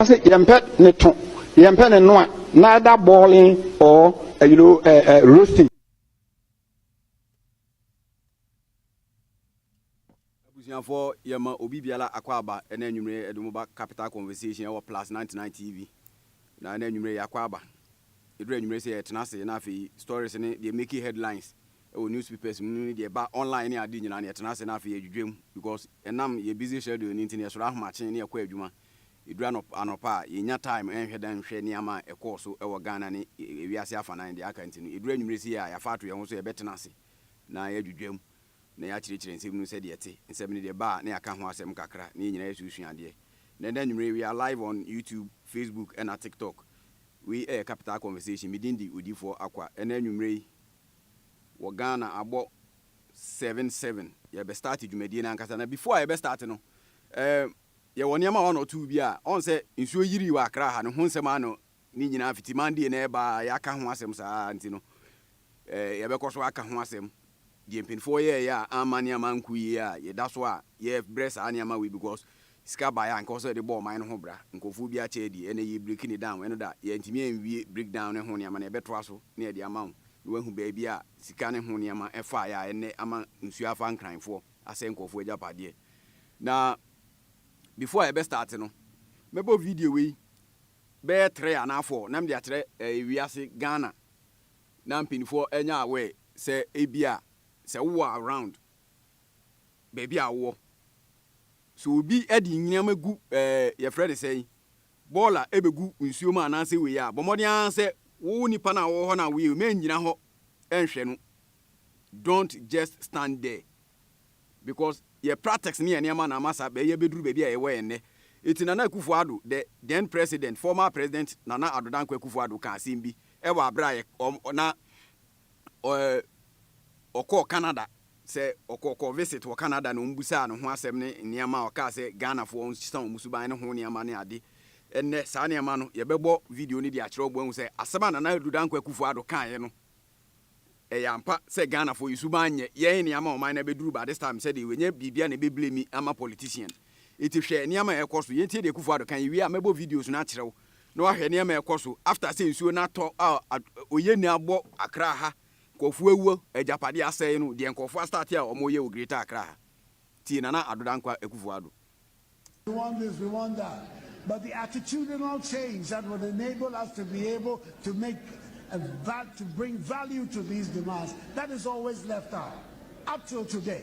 Ɔse yɛmpɛ ne to, yɛmpɛ ne noa, neither boiling or you know, uh, uh, roasting. abusuafoɔ yɛma obi biara akɔ aba ɛna anwummere ɛde mo ba capital conversation ɛwɔ plus 99 tv na ɛna anwummere yɛakɔ aba ɛduru anwummere sɛ yɛtena ase na afei stories ne deɛ make headlines wɔ newspapers mu no ne deɛ ɛba online ne ade nyinaa no yɛtena ase na afei yɛdwidwam because ɛnam yɛn busy schedule no nti no yɛsɔre ahomakye na yɛkɔ adwuma. Ɛduru anɔp anɔpa a yɛnnya time nhwɛ da nhwɛ nneɛma a ɛkɔɔ so wɔ Ghana ne wiase afanan deɛ aka nti no ɛduru anwumerɛ sei a yɛafa ato yɛn ho so yɛbɛtena ase na yɛadwidwam na yɛakyerɛkyerɛ nsɛm no sɛdeɛ ɛte. Nsɛm no deɛ ɛba a na yɛaka ho asɛm kakra na yɛn nyinaa yɛsusua adeɛ. Nnɛ nnɛ anwumerɛ we are live on YouTube, Facebook ɛna TikTok. Wei yɛ Capital Conversation. Me din de Odiyifoɔ Akwa. Ɛnnɛ anwumerɛ yi wɔ Ghana abɔ seven seven yɛbɛ start dwumadie no ankasa na before a yɛbɛ start no eh, yɛwɔ nneɛma one or two bi a ɔn sɛ nsuo yirii wɔ Accra ha no ho nsɛm ano ne nyinaa fiti Monday na ɛba a yɛaka ho asɛm saa nti no eh, yɛbɛkɔ so aka ho asɛm deɛ mpanimfoɔ yɛɛyɛ a amma nneɛma nku yie a yɛda so a yɛbrɛ saa nneɛma wei because Sika baeɛ a nka ɔsɛ yɛde bɔ ɔman no ho bra, nkurɔfoɔ biara kyɛ adie, ɛna yɛ break no down, ɛno da, yɛantumi anwie break down no ho nneɛma no, yɛbɛtoa so na yɛde ama wo, na wahu baabi a sika no ho nneɛma faeɛ a ɛnnɛ ama nsuo afa Nkranfoɔ, asɛe nkurɔfoɔ agyapadeɛ. Na before a yɛbɛ start no, mɛbɔ video wei bɛyɛ three anaa four na mede akyerɛ ɛɛ wiase, Ghana, na mpanimfoɔ ɛnyɛ aware sɛ ebia sɛ wowɔ around baabi a wowɔ, So obi de nyineama gu eh yɛfrɛ no sɛn, bɔɔl a ɛbɛgu nsuo mu anaasɛ wei a, bɔ mmɔden ara sɛ wo nipa no a ɔwɔ hɔ no a woyɛ wei ma ngyina hɔ nhwɛ no. Don't just stand there because yɛ practice ne yɛ nneɛma na ama saa bɛyɛ bɛduru baabi a yɛwɔ yɛ nnɛ. Ɛti Nana Akufo Addo, the then president, former president Nana Addo Dankwa Akufo Addo kaa asɛm bi wɔ aberɛ a yɛ ɔm na ɔkɔɔ Canada sɛ ɔkɔɔ visit wɔ Canada na wɔbisaa ne ho asɛm ne nneɛma a ɔkaa sɛ Ghanafoɔ ɔnsesa wɔn suban ne ho nneɛma ne ade. Ɛnnɛ saa nneɛma no yɛbɛbɔ video no de akyerɛ wɔn ahu sɛ asɛm a Nana Addo Dankwa Akufo Addo kaeɛ no ɛyɛ ampa sɛ Ghanafoɔ yɛ suban nyɛ yɛn nneɛma ɔman no abɛduru but this time sɛdeɛ wɔanya biribi a na ɛbɛ blame ama politician. Nti hwɛ nneɛma a ɛrekɔ so. Yɛntie deɛ Akufo Addo ka. Yɛwie a mɛbɔ videos no akyerɛ wo na wahwɛ nneɛma a ɛkɔ so after sɛ nsuo no atɔ a oyenni abɔ Accra ha, nkurɔfoɔ awuo, agyapadeɛ asɛe no, deɛ nkurɔfoɔ astarte a wɔreyɛ wɔ Greater Accra ha. Tie Nana Addo Dankwa Akuffo Addo. We want this, we want that, but the attitudinal change that would enable us to be able to make a val, to bring value to these demands, that is always left out, up till today.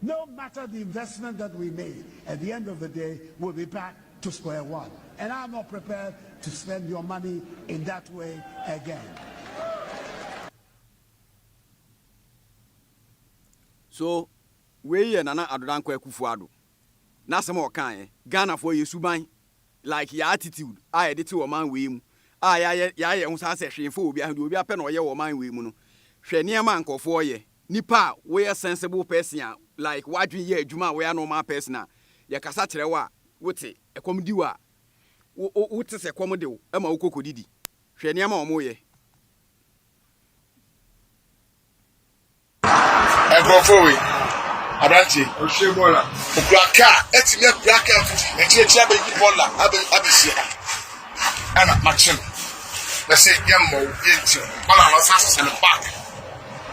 No matter the investment that we made at the end of the day will be back to square one and I'm not prepared to spend your money in that way again. So wei yɛ Nana Addo Dankwa Akufo Addo n'asɛm a ɔkaeɛ. Ghanafoɔ yɛ suban like yɛn attitude a yɛde te ɔman wei mu a yɛayɛ yɛn ho saa sɛ hwee mfa obiara ho, deɛ obiara pɛ na ɔyɛ wɔ ɔman wei mu no. Hwɛ nneɛma a nkurɔfoɔ yɛ. Nipa a woyɛ sensible person a like w'adwene yɛ adwuma a woyɛ normal person a yɛkasa kyerɛ wo a wote, ɛkɔm di wo a wo wote sɛ ɛkɔm de wo ɛma wokɔ kɔdidi. Hwɛ nneɛma a wɔyɛ. Nkurɔfoɔ wei, aberanteɛ yi, ɔkura kaa, atumi akura kaa fiti akyiriakyiri abɛyi bɔɔla abɛsi ha. ɛna makye no na sɛ yɛ mmɔ wo yɛ nti ɔna na ɔsan hyehyɛ no back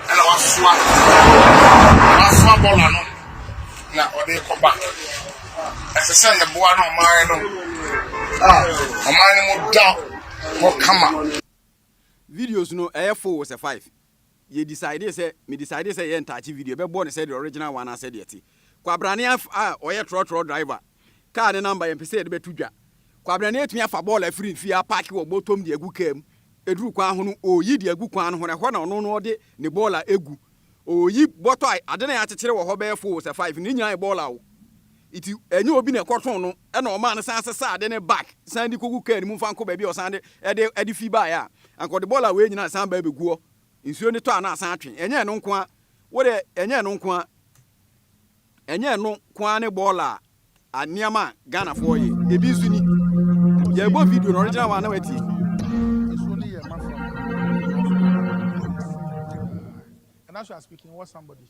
ɛna wasoa wasoa bɔla no na ɔde kɔ back ɛsɛ sɛ yɛboa no ɔman no a ɔman no mu da hɔ kama videos no ɛyɛ full sɛ five Yɛ decidee sɛ, me decidee sɛ yɛyɛ ntaakye video, yɛbɛbɔ no sɛdeɛ original one ara sɛdeɛ ɛte. Kwabrane a ɔyɛ trɔtrɔ driver, car ne number yɛmpɛ sɛ yɛde bɛto dwa. Kwabrane atumi afa bɔɔla afiri nfie apaake wɔ bɔtɔm de agu car mu, ɛduru kwan ho no ɔreyi de agu kwan no ho no ɛhɔ na ɔno no ɔde ne bɔɔla agu, ɔreyi bɔtɔ a ade no a yɛakyekyere wɔ hɔ bɛyɛ four sɛ five no ne nyinaa yɛ bɔɔla o. Enti ɛnyɛ obi na ɛkɔtɔn no na ɔmaa no san sesaa ade no back san de kɔgu kaa no mu mfa nkɔ baabi a ɔsan de ɛde ɛde fi baeɛ a, anka ɔde bɔɔla wei nyinaa san ba abɛgu hɔ. Nsuo no tɔ a na asan atwe. Ɛnyɛ ɛno nko ara. Wo deɛ ɛnyɛ ɛno nko ara. Ɛnyɛ ɛno nko ara ne bɔɔla a a nneɛma a Ghanafoɔ yɛ. Ebi nso ni. Yɛrebɔ video no original one na watie. Nsuo no yɛ mafra. Ɛna so you are speaking what somebody.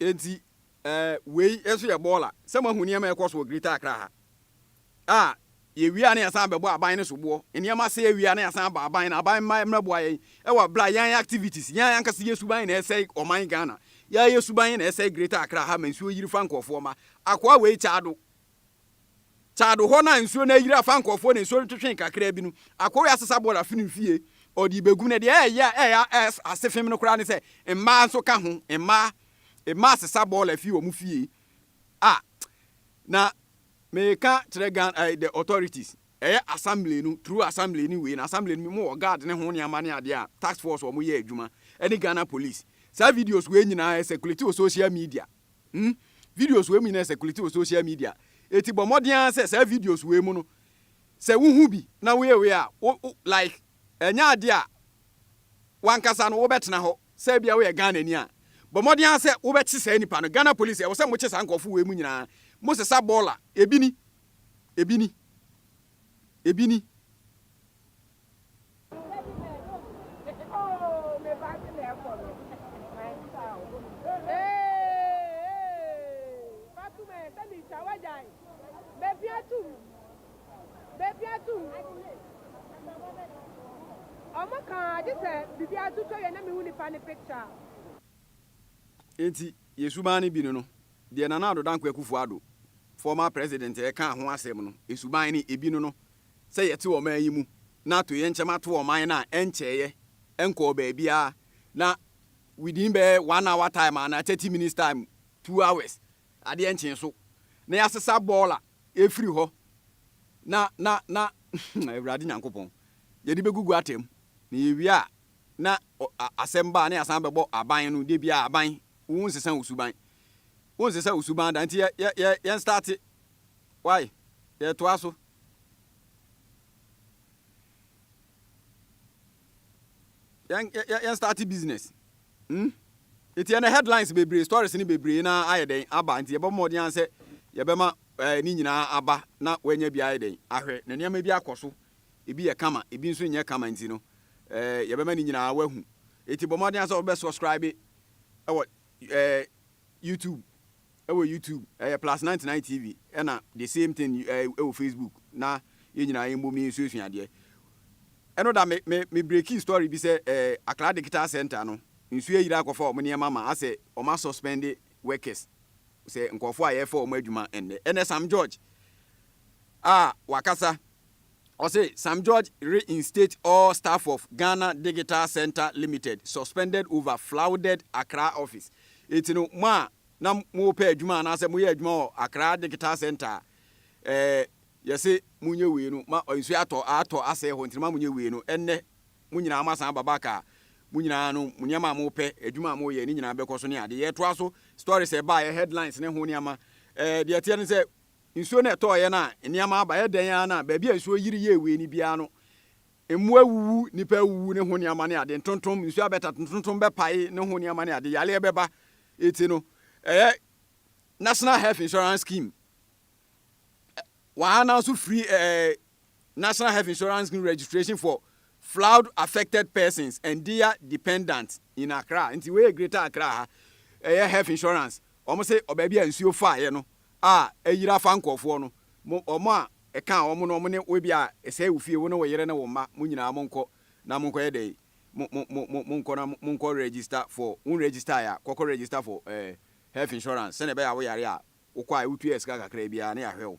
Enti eh, wei nso yɛ bɔɔla. Sɛ moahu nneɛma a ɛrekɔ so wɔ Greater Accra ha a, yɛwie a na yɛsan bɛbɔ aban no soboɔ. Nneɛma sɛe awie a na yɛsan ba aban no, aban mma mmɛboa yɛn wɔ berɛ a yɛn activities, yɛn ankasa yɛn suban na ɛresɛe ɔman Ghana. Yɛn suban na ɛresɛe Greater Accra ha ma nsuo yiri fa nkurɔfoɔ mma. Akoa wei kyɛ ado. Taado hɔ no a nsuo no ayiri afa nkurɔfoɔ na nsuo no twetwee kakraa bi no, Akoi asesa bɔɔla firi ne fie, ɔde rebɛgu. Na deɛ ɛyɛ a ɛyɛ a ɛyɛ ase fem no koraa ne sɛ, mmaa nso ka ho, mmaa, mmaa sesa bɔɔla firi wɔn fie. Ah, na meka kyerɛ Ghana, eh, the authorities, ɛyɛ assembly no, through assembly ne wei, na assembly no mu wɔ guard ne ho nneɛma ne adeɛ a, task force wɔn yɛ adwuma, ɛne Ghana police. Saa videos wei nyinaa ɛsɛ kuleti wɔ social media. Hmm, videos wei mu nyinaa circulate wɔ social media, enti bɔ mmɔden ara sɛ saa videos wei mu no, sɛ wuhu bi na woyɛ wei a, wo, wo, like, ɛnyɛ ade a w'ankasa no wobɛtena hɔ, sɛ ebia woyɛ Ghanani a, bɔ mmɔden ara sɛ wobɛkye saa nipa no. Ghana Police, ɛwɔ sɛ mokye saa nkurɔfo wei mu nyinaa, mosesa bɔɔla, ebi ni, ebi ni, ebi ni. Enti, yɛn suban no bi ne no. Deɛ Nana Addo Dankwa Akufo-Addo, former President, ɛkaa ho asɛm no, suban no ebi ne no. sɛ yɛte ɔman yi mu na atoyerɛnkyɛm ato ɔman no a, ɛnkyɛeɛ, ɛnkɔɔ baabiara, na within bɛyɛ one hour time anaa thirty minutes time, two hours, adeɛ nkyee so, na yɛasesa bɔɔla afiri hɔ, na, na, na, Awurade Nyankopɔn, yɛde bɛgugu ata mu, na yɛwie a, na asɛm ba a, na yɛasan bɛbɔ aban no, da biara aban, wonsesa wo suban, wonsesa wo suban da, nti yɛ, yɛ, yɛ, yɛnstarte, wai, yɛtoa so. yɛn yɛn yɛn start business hmm eti ɛnɛ headlines bebree stories ne bebree na ayɛ dɛn aba nti yɛbɛbɔ mmɔden ara sɛ yɛbɛma ɛɛ eh, ne nyinaa aba na wɔanya bi ayɛ dɛn ahwɛ na nneɛma bi akɔ so ebi yɛ kama ebi nso nyɛ kama nti no ɛɛ eh, yɛbɛma ne nyinaa wahu eti bɔ mmɔden ara sɛ wɔbɛ subscribe ɛwɔ ɛɛ eh, youtube Ɛwɔ YouTube ɛyɛ plus ninety nine TV ɛna the same thing ɛwɔ Facebook na yɛn nyinaa yɛn bom yɛn suasua adeɛ. Ɛno da me me me breaki story bi sɛ ɛɛ Akra Digital Center no nsuo ayiri akɔfa wɔn nneɛma ma asɛ wɔn asɔspɛnde workers sɛ nkorɔfoɔ a yɛɛfa wɔn adwuma ɛnnɛ. Ɛnɛ Sam George a wakasa. Ɔse Sam George reinstate all staff of Ghana Digital Centre Limited suspended over flouded Accra office. Enti no mo a na mopɛ adwuma anaasɛ moyɛ adwuma wɔ Accra Digital Centre a, eh, yɛse monyɛ wei no ma nsuo atɔ atɔ asɛe hɔ nti no ma monyɛ wei no. Ɛnnɛ mo nyinaa moasan aba back a, mo nyinaa no mo nneɛma a mopɛ, adwuma a moyɛ ne nyinaa bɛkɔ so ne ade. Yɛtoa so, stories a ɛbaeɛ, headlines ne ho nneɛma. Eh, deɛ ɛteɛ ne sɛ Nsuo no ɛtɔɔ yɛ no a nneɛma aba yɛ dɛn ara na baabi a nsuo yiri yɛɛ wei no biara no mmoa awuwu, nnipa awuwu ne ho nneɛma ne ade, ntontom, nsuo abɛtata, ntontom bɛpae ne ho nneɛma ne ade, yareɛ bɛba. Eti no ɛyɛ National Health Insurance Scheme wɔn ara nanso firi ɛɛ. National Health Insurance Scheme registration for flood affected persons and their dependants in Accra. Nti wei yɛ Greater Accra ha. Ɛyɛ health insurance. Wɔn se ɔbaabi a nsuo faeɛ no a ayira afa nkurɔfoɔ no, mo wɔn a ɛka wɔn no, wɔn ne wo ebi a ɛsɛe wo fie, wo ne wo yere ne wo mma, mo nyinaa monkɔ na monkɔyɛ dɛ yi. Mo mo mo mo monkɔ na monkɔ register for wo register ya, kɔkɔ register for eh, health insurance. Sɛnea ɛbɛyɛ a wo yare a wokɔ a wotua sika kakra biara ne yɛahwɛ wo.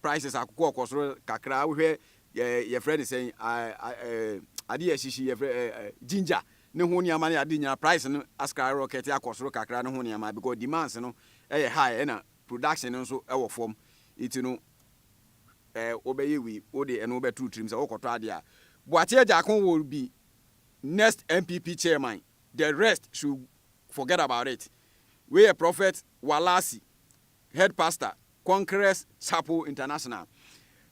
prices akokɔ ɔkɔ soro kakra wohwɛ yɛ yɛfrɛ ne sɛn ade yɛ hyehye yɛfrɛ ginger ne ho nneɛma ne ade nyinaa price no askra rocket akɔ soro kakra ne ho nneɛma because demands no ɛyɛ high ɛna production no nso ɛwɔ fam eti no ɛɛ wobɛyɛ wi wode ɛno wobɛturu tirim sɛ wokɔtɔ ade a Boakye Agyakon will be next NPP chairman the rest should forget about it wei yɛ prophet Walasi Head pastor conquerors chapel international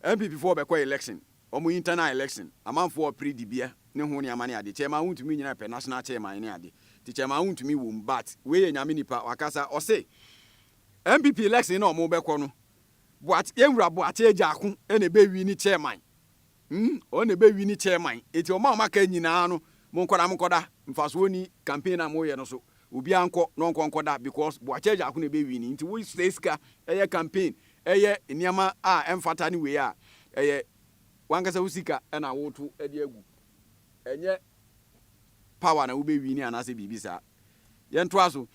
NPP foɔ bɛkɔ election ɔmo internal election amanfoɔ ɔpere dibea ne ho nneɛma ne ade chairman wontumi nyina pɛ national chairman ne ade nti chairman wontumi wom but wei yɛ nyame nipa wakasa ɔse NPP election na ɔmo bɛkɔ no boate yɛn wura boate agya ako na ɛbɛ wini chairman. Hmm, ɔno na ɛbɛwi ne chairman. Enti ɔma ɔma ka nyinaa no, monkɔ na monkɔda, mfasoɔ nni campaign a moyɛ no so. Obiara nkɔ na ɔnkɔ nkɔda because Boakyɛ Gyarko na ɛbɛ wini. Nti wo sɛe sika yɛ campaign, yɛ nneɛma a ɛmfata ne wei a, ɛyɛ wankasa wo sika na woto de agu. Ɛnyɛ power na wobɛ wini anaasɛ biribi saa. Yɛntoa so.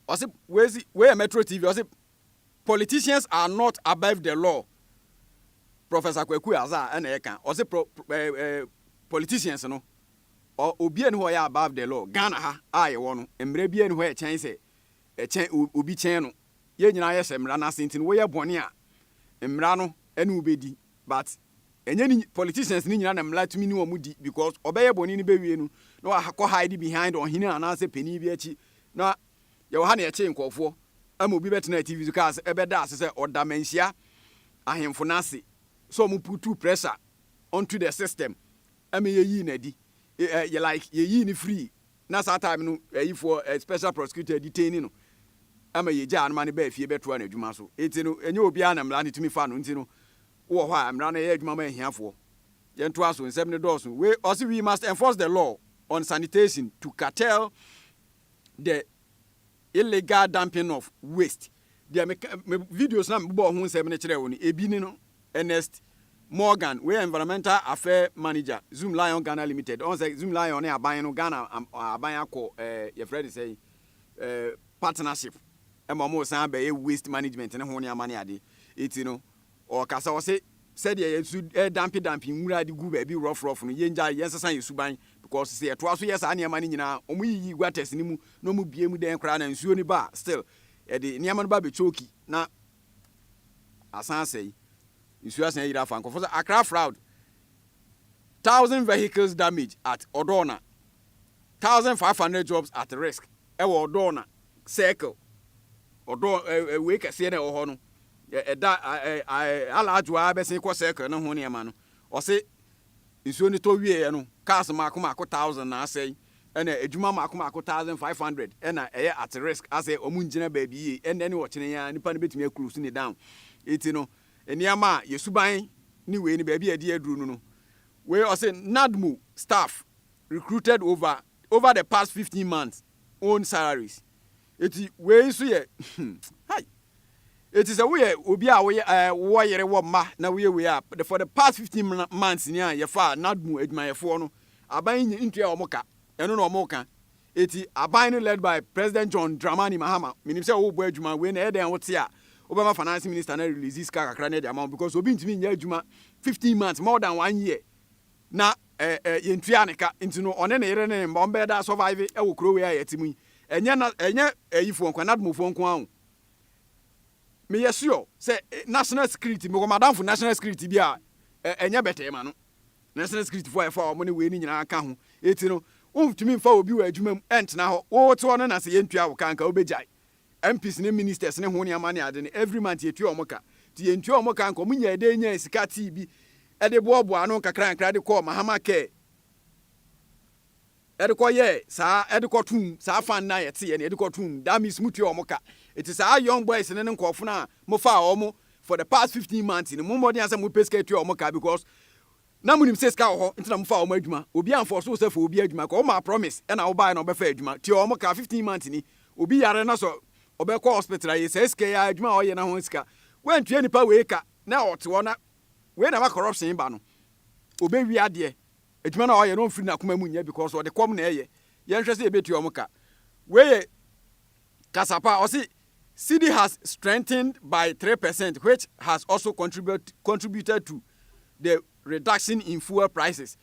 Ɔse wei si, wei yɛ Metro TV, ɔse Politicians are not above the law Professor Kwaku Aza ɛna ɛka ɔse pro, eh, eh, politicians no obi ɛni hɔ ɔyɛ above the law Ghana ha a yɛwɔ no mmerɛ bi ɛni hɔ ɛkyɛn sɛ ɛkyɛn obi kyɛn no yɛn nyinaa yɛhyɛ mmara no ase nti no woyɛ bɔne a mmara no ɛne wobɛdi but ɛnyɛ ni politicians ni nyina na mmara tumi ne wɔn di because ɔbɛyɛ bɔne no bɛwie no na wakɔ hide behind ɔhene anaasɛ panin bi akyi na Yɛwɔ ha na yɛtee nkurɔfoɔ ma obi bɛtenaa TV so kaa sɛ bɛda ase sɛ ɔda Manhyia ahemfo no ase sɛ ɔmo putuu pressure onto the system ma yɛyii no adi. Yɛ like yɛyii no firii na saa time no ayifoɔ special prosecutor detaini no ma yɛgyaa no ma no baa fie bɛtoaa n'adwuma so. Nti no ɛnyɛ obiara na mmara no tumi fa no nti no wowɔ hɔ a mmara no yɛ adwuma ma ahiafoɔ. Yɛntoa so, nsɛm no dɔɔso. Wei ɔse we must enforce the law on sanitation to curtail the illegal dumping of waste. Deɛ me ka me videos na mebɔɔ ho nsɛm no kyerɛɛ wo no, ebi ne no. Ernest Morgan, wei yɛ environmental affair manager, Zoom Lion Ghana Limited. Ɔn sɛ Zoom Lion ne aban no, Ghana aban akɔ ɛɛ yɛfrɛ no sɛn ɛɛ partnership ɛma wɔn san bɛyɛ waste management ne ho nneɛma ne ade. Eti no, Ɔkasa, ɔse, Sɛdeɛ yɛn su redampedampe nwura de gu baabi rough rough no, yɛngyae, yɛnsesa yɛn suban, because sɛ yɛtoa so yɛ saa nneɛma no nyinaa a, wɔyiyi gutters no mu na wɔbue mu dɛn koraa na nsuo no ba a, still ɛde nneɛma no ba bɛchoki na asan asɛe, nsuo asan ayiri afa nkurɔfoɔ so. Accra Fraud, Thousand vehicles damaged at Odorna, 1500 jobs at risk wɔ Odorna circle ɔdɔ ɛɛ wei kɛseɛ na ɛwɔ hɔ no ɛda alaadwo ara bɛsen kɔ circle no ho nneɛma no ɔse nsuo no tɔ wieɛ no cars mako mako thousand na asɛe ɛna adwuma mako mako thousand five hundred ɛna ɛyɛ at risk asɛ ɔmo ngyina baabi yie ɛnɛ ne ɔkyene ya nipa no bɛtumi akurus ne down eti no nneɛma a yɛsuban ne wei no baabi a ɛde aduru no no wei ɔse NADMO staff recruited over over the past fifteen months own salaries eti wei nso yɛ hai eti sɛ woyɛ obi a woyɛ ɛɛ eh, wɔ yere wɔ mma na woyɛ wei a the for the past fifteen months ni a yɛfa nadmo adwumayɛfoɔ no aban yi nyɛ ntua wɔn ka ɛno na wɔn ka eti aban no led by president john dramani mahama menim sɛ wɔrebɔ adwuma wei na ɛyɛ dɛn wote a wobɛma finance minister na release sika kakra na ɛde ama wɔn because obi ntumi nyɛ adwuma fifteen months more than one year na ɛɛ yɛntua ne ka nti no ɔne ne yere ne ne mma wɔn bɛyɛ daa survive wɔ kuro wei a yɛte mu yi ɛnyɛ na ɛnyɛ ɛyifoɔ nko anadmofoɔ nko ara o meyɛ sure sɛ national security mewɔ madamfo national security bi a ɛnyɛ bɛtɛɛ ma no national security foɔ a ɛfa wɔn ne wei ne nyinaa ka ho eti no wontumi nfa obi wɔ adwuma mu ɛntena hɔ wote hɔ no na sɛ yɛntua wo ka nka wobɛgyae MPs ne ministers ne ho nneɛma ne ade no every month yɛtua wɔn ka nti yɛntua wɔn ka nka wɔn nyaa dɛn nyaa sika tee bi de boaboaa ano nkakrankakra de kɔɔ Mahama care ɛde kɔ yɛ saa ɛde kɔ tum saa fan na yɛte yɛ ne ɛde kɔ tum that means mo tua wɔn ka eti saa young boys ne ne nkorɔfo na mo fa wɔn for the past fifteen months ne mo mmɔden asɛ mo pɛ sika tua wɔn ka because Na monim sɛ sika wɔ hɔ nti na mofaa wɔn adwuma, obi anfɔɔse wo sɛ fa obi adwuma kɔ, womaa promise ɛna wobaeɛ na wobɛfa adwuma, tua wɔn ka, 15 months ni, obi yare na sɛ ɔbɛkɔ hospital a, yɛsɛe sika yi ara, adwuma a ɔyɛ na ho sika, woantua nipa wei ka na ɔte hɔ na wei na ɛma corruption ba no, ɔbɛwie adeɛ. Adwuma no a ɔyɛ no ɔmfiri n'akoma mu nyɛ because ɔde kɔm na ɛyɛ, yɛnhwɛ sɛ yɛbɛtua wɔn ka, wei yɛ. kasa pa, ɔse cedi has strengthened by three percent which has also contributed to the reduction in fuel prices.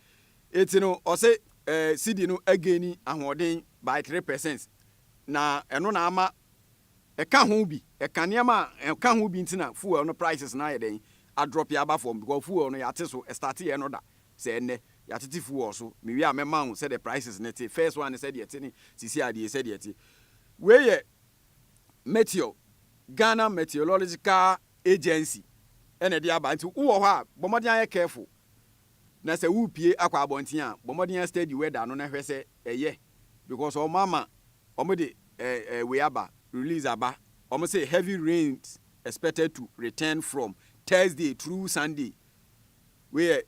Eti no ɔse eh, cedi no againi ahoɔden by three percent na ɛno na ama ɛka ho bi, ɛka nneɛma a ɛka ho bi nti na fuel no prices no ayɛ dɛn adrɔpe aba fam because fuel no yɛate so ɛstarteɛ no da Sɛ ɛnnɛ, yɛatete fuel wɔ so. Mewie a, mɛma wo sɛdeɛ prices no te. First one ne sɛdeɛ ɛte ne seesei adeɛ yi sɛdeɛ ɛte. Wei yɛ Meteor, Ghana Meteorological Agency na ɛde aba. Nti wo wɔ hɔ a, bɔ mmɔden ayɛ careful. Na sɛ worepue akɔ abɔnten a, bɔ mmɔden astudy weather no na hwɛ sɛ ɛyɛ. Because wɔn ama wɔde eh, eh, wei aba, release aba. Wɔn se heavy rains expected to return from Thursday through Sunday. Wei yɛ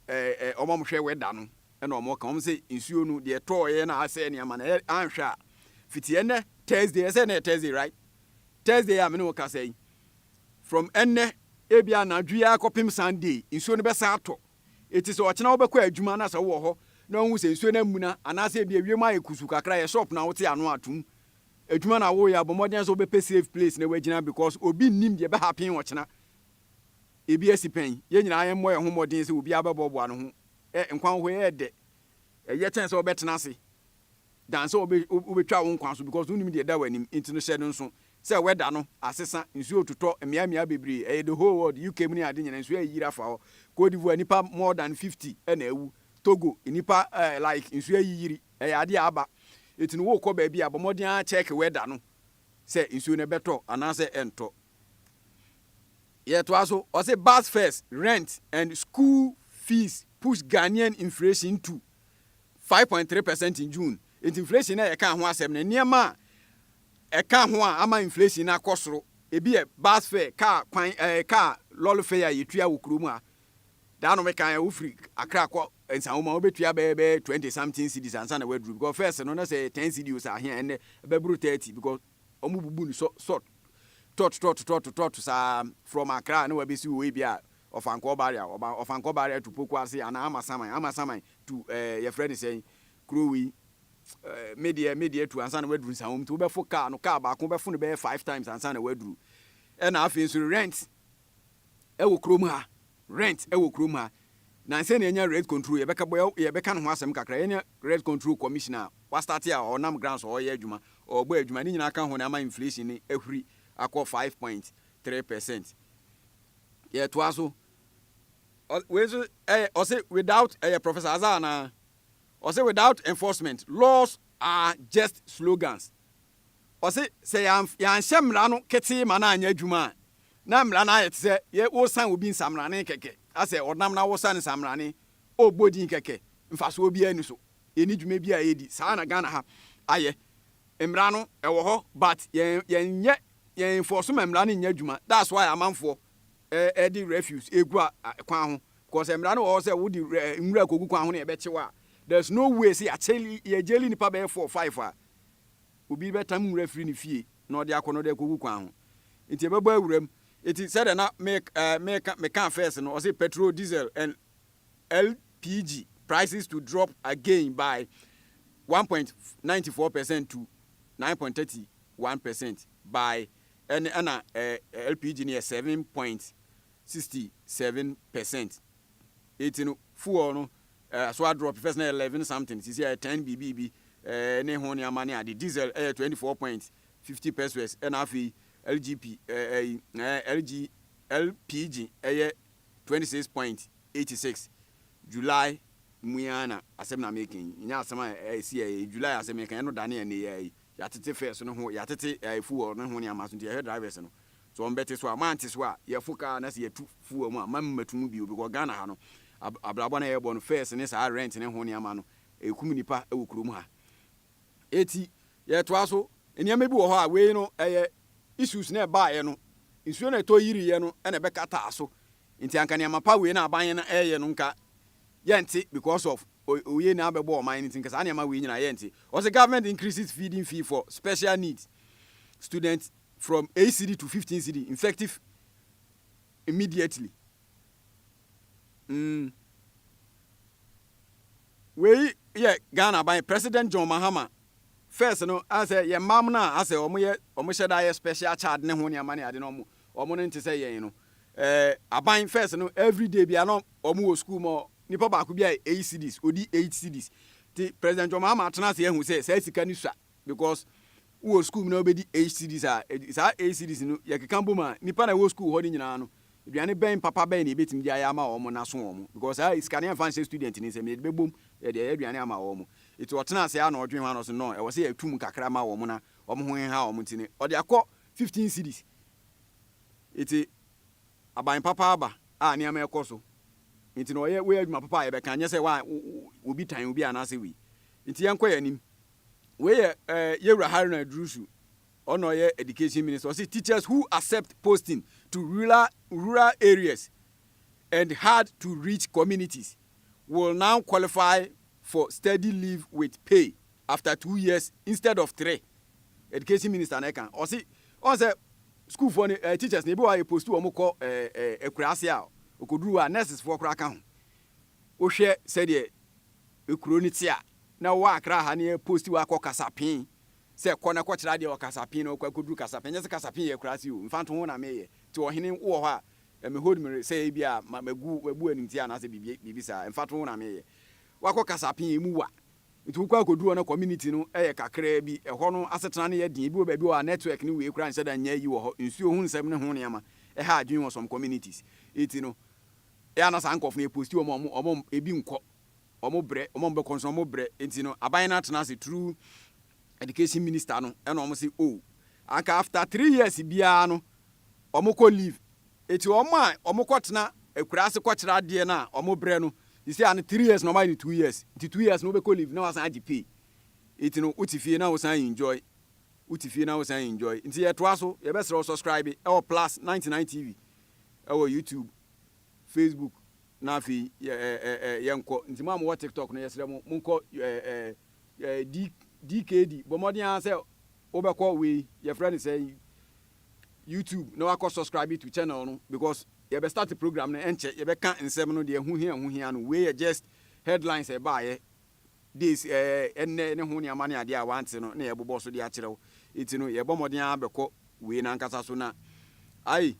ɛɛ wɔn a wɔhwɛ wɛda no na wɔka. Wɔn sɛ nsuo no deɛ ɛtɔɔeɛ na asɛe nneɛma no. Ɛyɛ anhwɛ a fiti ɛnɛ Thursday ɛsɛ ɛnɛ yɛ Thursday right? Thursday a me ne wo kasa yi from ɛnɛ ebi anadwo yi akɔpem Sunday nsuo no bɛsa atɔ. Eti sɛ ɔkyena wobɛkɔ adwuma na sɛ wowɔ hɔ na wohu sɛ nsuo no amuna anaasɛ ebi ewiem ayɛ kusu kakra yɛ shop na wote ano atom adwuma na woyɛ a bɔ mmɔden sɛ wobɛpɛ safe place na woagyina because obi nnim deɛ ɛbɛhappen ɔkyena. ebi asi pɛn. Yɛn nyinaa yɛmmɔ yɛn ho mmɔden sɛ obiara bɛboaboa ne ho. Ɛ, nkwa hɔ yɛ dɛ. Ɛyɛ kyɛn sɛ wobɛtena ase dan sɛ wobe, wobɛtwa wo nkwa so because wonim deɛ ɛda w'anim. Nti no, hyɛ no nso sɛ weather no asesa, nsuo retotɔ mmeammea bebree. Ɛyɛ the whole world, UK mu ne ade nyinaa, nsuo ayeyiri afa hɔ. Côte d'Ivoire, nnipa more than 50 na awu. Togo, nnipa eh, like nsuo ayeyiri. Ɛyɛ adeɛ a aba. Nti no, worekɔ baabi a, bɔ mmɔden ara check weather no sɛ nsuo no ɛbɛtɔ anaasɛ ɛntɔ. Yɛtoa so, ɔse bus fares, rent and school fees push Ghanaian inflation to five point three percent in June. Enti inflation na yɛka ho asɛm no, nneɛma a ɛka ho a ama inflation no akɔ soro, ebi yɛ bus fare, kaa kwan, ɛɛ eh, kaa lɔre fare a yɛtua wɔ kurom ha. Daa no meka ɛ, wofiri Accra kɔ Nsawoma, wobɛtua bɛyɛ bɛyɛ twenty something cedis ansa na waduru because first no na sɛ ten cedi o sɛ ahea ɛnnɛ ɛbɛboro thirty because wɔbubu no sɔ sɔ tɔt tɔt tɔt tɔt saa from Accra na wɔabɛsi wɔ ebia Ɔfankɔɔ barrier, wɔba Ɔfankɔɔ barrier to Pokuase anaa Amasaman, Amasaman to ɛɛ yɛfrɛ no sɛn kuro wei ɛɛ me deɛ me deɛ to ansa na wɔaduru Nsawam nti wobɛfo kaa no, kaa baako wobɛfo no bɛyɛ five times ansa na wɔaduru. Ɛna afei nso rent. wɔ kurom ha, rent wɔ kurom ha. Na ansa na yɛanya rent control, yɛbɛka bɔ, yɛbɛka ne ho asɛm kakra. Yɛanya rent control commission a wɔastate a ɔnam grants a ɔreyɛ adwuma, ɔrebɔ adwuma. Ne nyinaa ka ho na ama inflation no ahuri akɔ five point three percent. Yɛtoa so. Ɔ, wei nso, ɛyɛ, ɔse without, ɛyɛ Professor Azar anaa? Ɔse without enforcement, laws are just slogans. Ɔse sɛ yɛanhyɛ mmara no ketee ma no anyɛ adwuma a, na mmara no ayɛ te sɛ yɛ woresan obi nsamrane kɛkɛ, asɛ ɔnam na woresan no nsamrane, ɔrebɔ din kɛkɛ, mfasoɔ biara nni so, ɛnni dwuma biara a ɛredi. Saa na Ghana ha ayɛ. Mmara no ɛwɔ hɔ but yɛn yɛnyɛ yɛn enforce ma mmara no nnyɛ adwuma that's why amanfoɔ ɛde refuse ɛregu kwan ho because mmara no wɔ hɔ sɛ wode nwura kɔgu kwan ho na yɛbɛkye wo a there's no way sɛ yɛakyɛ yɛgyeli nipa bɛyɛ four five a Obi bɛtam nwura afiri ne fie na ɔde akɔ na ɔde akɔgu kwan ho nti ɛbɛbɔ awuram. Enti sɛdeɛ na meka mekaa first no, ɔse petrol, diesel and LPG prices to drop again by one point ninety four percent to nine point thirty one percent by ɛne ɛna LPG no yɛ seven point sixty seven percent. Eti no fuel no so adrop, first na ɛyɛ eleven something, sisi ɛyɛ ten biribiibi ne ho nneɛma ne ade. Diesel ɛyɛ twenty four point fifty pesos ɛna afei LGP ɛyi LG LPG ɛyɛ twenty six point eighty six. July mu yi ara na asɛm na meka yi, nyɛ asɛm a ɛsi ɛyɛ yi, July asɛm meka yi, ɛno da ne ɛneyɛ yi, yɛatete fares no ho, yɛatete fuel no ho nneɛma so nti yɛhwɛ drivers no Sɛ wɔn bɛte so a, mante so a, yɛfo kaa na sɛ yɛtu fo wɔ mu a, mma me mmatu mu bio because Ghana ha no, ab abrabɔ no a yɛbɔ no, fares ne saa rent ne ho nneɛma no, ɛkum nnipa wɔ kurom ha. Eti, yɛtoa so, nneɛma bi wɔ hɔ a, wei no, ɛyɛ issues na ɛbaeɛ no, nsuo na ɛtɔ yiriiɛ no na ɛbɛkataa so, nti anka nneɛma pa wei na aban no reyɛ no nka yɛnte because of oyei na abɛbɔ ɔman no nti, nka saa nneɛma wei nyinaa yɛnte. Ɔse government increases feeding fee for special needs students from eight cedi to fifteen cedi infective immediately mm wei yɛ ghana aban president john mahama first no asɛ yɛ mmaa no a asɛ wɔn yɛ wɔn hyɛ da yɛ special child ne ho nneɛma ne ade no wɔn wɔn no nte sɛ yɛn no ɛɛ eh, aban first no everyday bia no wɔn wɔ school mu nipa baako bi a eight cedis odi eight cedis ti president john mahama atena ase ehu sɛ saa sika ne sua because wowɔ sukuu mu na wobɛdi eight cedis a, saa eight cedis no yɛkeka bom a, nnipa na ɛwɔ sukuu hɔ no nyinaa no, aduane bɛn papa bɛn na yɛbɛtumi de ayɛ ama wɔn na aso wɔn? Because saa sika no yɛmfa nhyɛ student no nsam, yɛde bɛbom yɛde ayɛ aduane ama wɔn. Nti ɔtena ase ara na ɔdwen ho a na ɔse no, ɛwɔ sɛ yɛtu mu kakra ma wɔn na wɔn ho nha wɔn nti no, ɔde akɔ fifteen cedis. Nti aban papa aba a nneɛma ɛkɔ so. Nti na ɔyɛ wei adwuma papa a yɛbɛka, nyɛ sɛ wa obi tan obi anaasɛ wei. Nti yɛnkɔ yɛn anim. Wei yɛ eh, Yɛwura Haruna Iddrisu, ɔna ɔyɛ Education Minister. Ɔse teachers who accept posting to rural, rural areas and hard to reach communities will now qualify for study leave with pay after two years instead of three. Education Minister na ɛka. Ɔse, ɔn sɛ sukuufoɔ no, eh, teachers no, ebi wɔ a yɛposti wɔn kɔ eh, eh, akuraase a, ɔkɔduru hɔ a, nurses foɔ koraa ka ho. Wohwɛ sɛdeɛ ekuro no te a, Na wowɔ akra ha ne yɛposti wo akɔ kasapen sɛ kɔ na kɔtra deɛ wɔ kasapen na wokɔ akɔduru kasapen nyɛ sɛ kasapen yɛ akura ase o mfa nto ho na meyɛ nti ɔhene wowɔ hɔ a eh, me hold me sɛ ebi a ma magu mabu animtia anaasɛ biribi biribi saa mfa to ho na meyɛ wakɔ kasapen emu wa nti wokɔ akɔduru hɔ na community no yɛ kakraa bi ɛhɔ no asetena no yɛ den ebi wɔ baabi wɔ a network ne wei kora nhyɛ da nyɛ yi wɔ hɔ nsuo ho nsɛm ne ho nneɛma ɛha adwene wɔ some communities eti no ɛa na saa nkɔfo no yɛ posti wɔn a wɔn ebi nkɔ wɔn brɛ, wɔn a wɔbɛkɔ nso wɔn brɛ, nti no aban no atena ase through education minister no ɛna wɔn se oh anka after three years biara no wɔn kɔ leave, eti wɔn a wɔn kɔ tena akura ase kɔ kyerɛ adeɛ no a wɔn brɛ no sisi ano three years na wɔn ayɛ no two years, nti two years no wobɛkɔ leave na wasan agye pay, eti no wote fie na wosan enjoy, wote fie na wosan enjoy, nti yɛtoa so, yɛbɛsrɛ wo subscribe ɛwɔ plus ninety nine TV ɛwɔ YouTube. Facebook na afei yɛ ɛ ɛ ɛ yɛnkɔ nti mo a mowɔ TikTok no yɛsrɛ mo monkɔ ɛ ɛ ɛ D DKD bɔ mmɔden ara sɛ wobɛkɔ wei yɛfrɛ no sɛ YouTube na wakɔ subscribe to channel no because yɛbɛ start program no ɛnkyɛ yɛbɛka nsɛm no deɛ ɛho hia ɛho hia no wei yɛ just headlines ɛbaayɛ Days ɛɛ nnɛ ne ho nneɛma ne adeɛ a wante no na yɛbobɔ so de akyerɛ wo. Nti no yɛbɔ mmɔden ara bɛkɔ wei no ankasa so na ai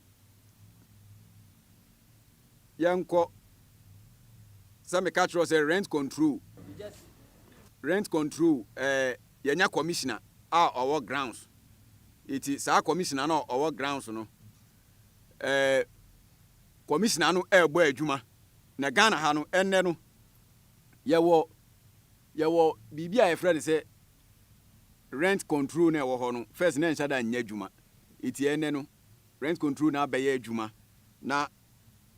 yɛnkɔ sɛ meka kyerɛ wo sɛ rent control rent control ɛɛ yɛnya commissioner a ɔwɔ grounds nti saa commissioner no a ɔwɔ grounds no ɛɛ commissioner no ɛrebɔ adwuma na Ghana ha no ɛnnɛ no Yɛwɔ yɛwɔ biribi a yɛfrɛ no sɛ rent control na ɛwɔ hɔ no, first na ɛnhyɛ da nyɛ adwuma. Eti ɛnnɛ no, rent control na abɛyɛ adwuma na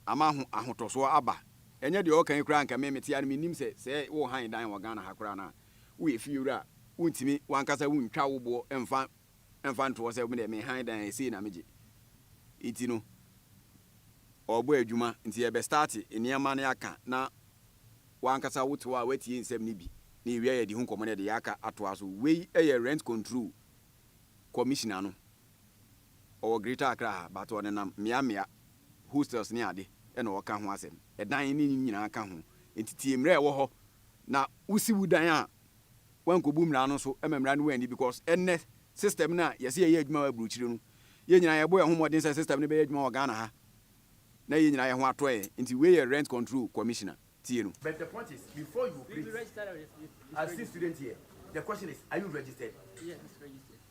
ama ho ahotɔsoɔ aba. Ɛnyɛ deɛ ɔɔka yi koraa anka me mete a no mennim sɛ sɛ wo han dan wɔ Ghana ha koraa no a, woyɛ fiewura a, wontumi wankasa wontwa wo boɔ mfa mfa ntoɔ sɛ medeɛ me han dan ɛsei na megye. Eti no, ɔɔbɔ edwuma ntsi yɛbɛ start nneɛma no aka na wankasa wo tse hɔ a watsie nsɛm no bi na yewie a yɛdze ho nkɔmbɔ na yɛdze yɛaka atoa so. Wei yɛ Rent Control Commissioner no, ɔwɔ Greater Accra ha but ɔnenam mmea mmea, hostels ne ade na ɔɔka ho asɛm. Dan ne ne nyinaa ka ho ntsi tsie mbrɛ ɛwɔ hɔ na wosi wo dan a, wankobu mmara no so ma mmara no anni because ɛnnɛ system no a yɛse yɛyɛ adwuma wɔ aburokyire no yɛn nyinaa yɛbɔ yɛn ho mmɔden sɛ system no bɛyɛ adwuma wɔ Ghana ha na yɛn nyinaa yɛn ho atɔ yɛn nti wei yɛ rent control commissioner tie no. But the point is before you operate as a student here the question is are you registered? Yes it's registered.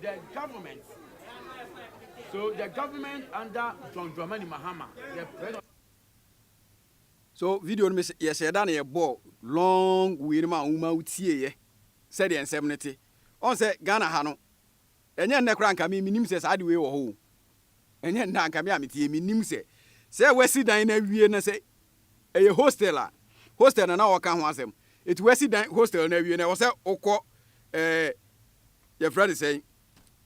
The government so the government under John Dramani Mahama the president. So video no mese yɛhyɛ da na yɛbɔɔ long wei no ma wo ma wo tieeɛ sɛdeɛ nsɛm no te. Ɔn sɛ Ghana ha no ɛnyɛ nnɛ koraa nka me menim sɛ saa ade wei wɔ hɔ o. Ɛnyɛ nnɛ a nka me a mete yɛ menim sɛ sɛ wasi dan no awie na sɛ ɛyɛ hostel a, hostel na na wɔka ho asɛm. Enti wɔasi dan hostel no awie no, ɛwɔ sɛ wokɔ ɛɛ yɛfrɛ no sɛn,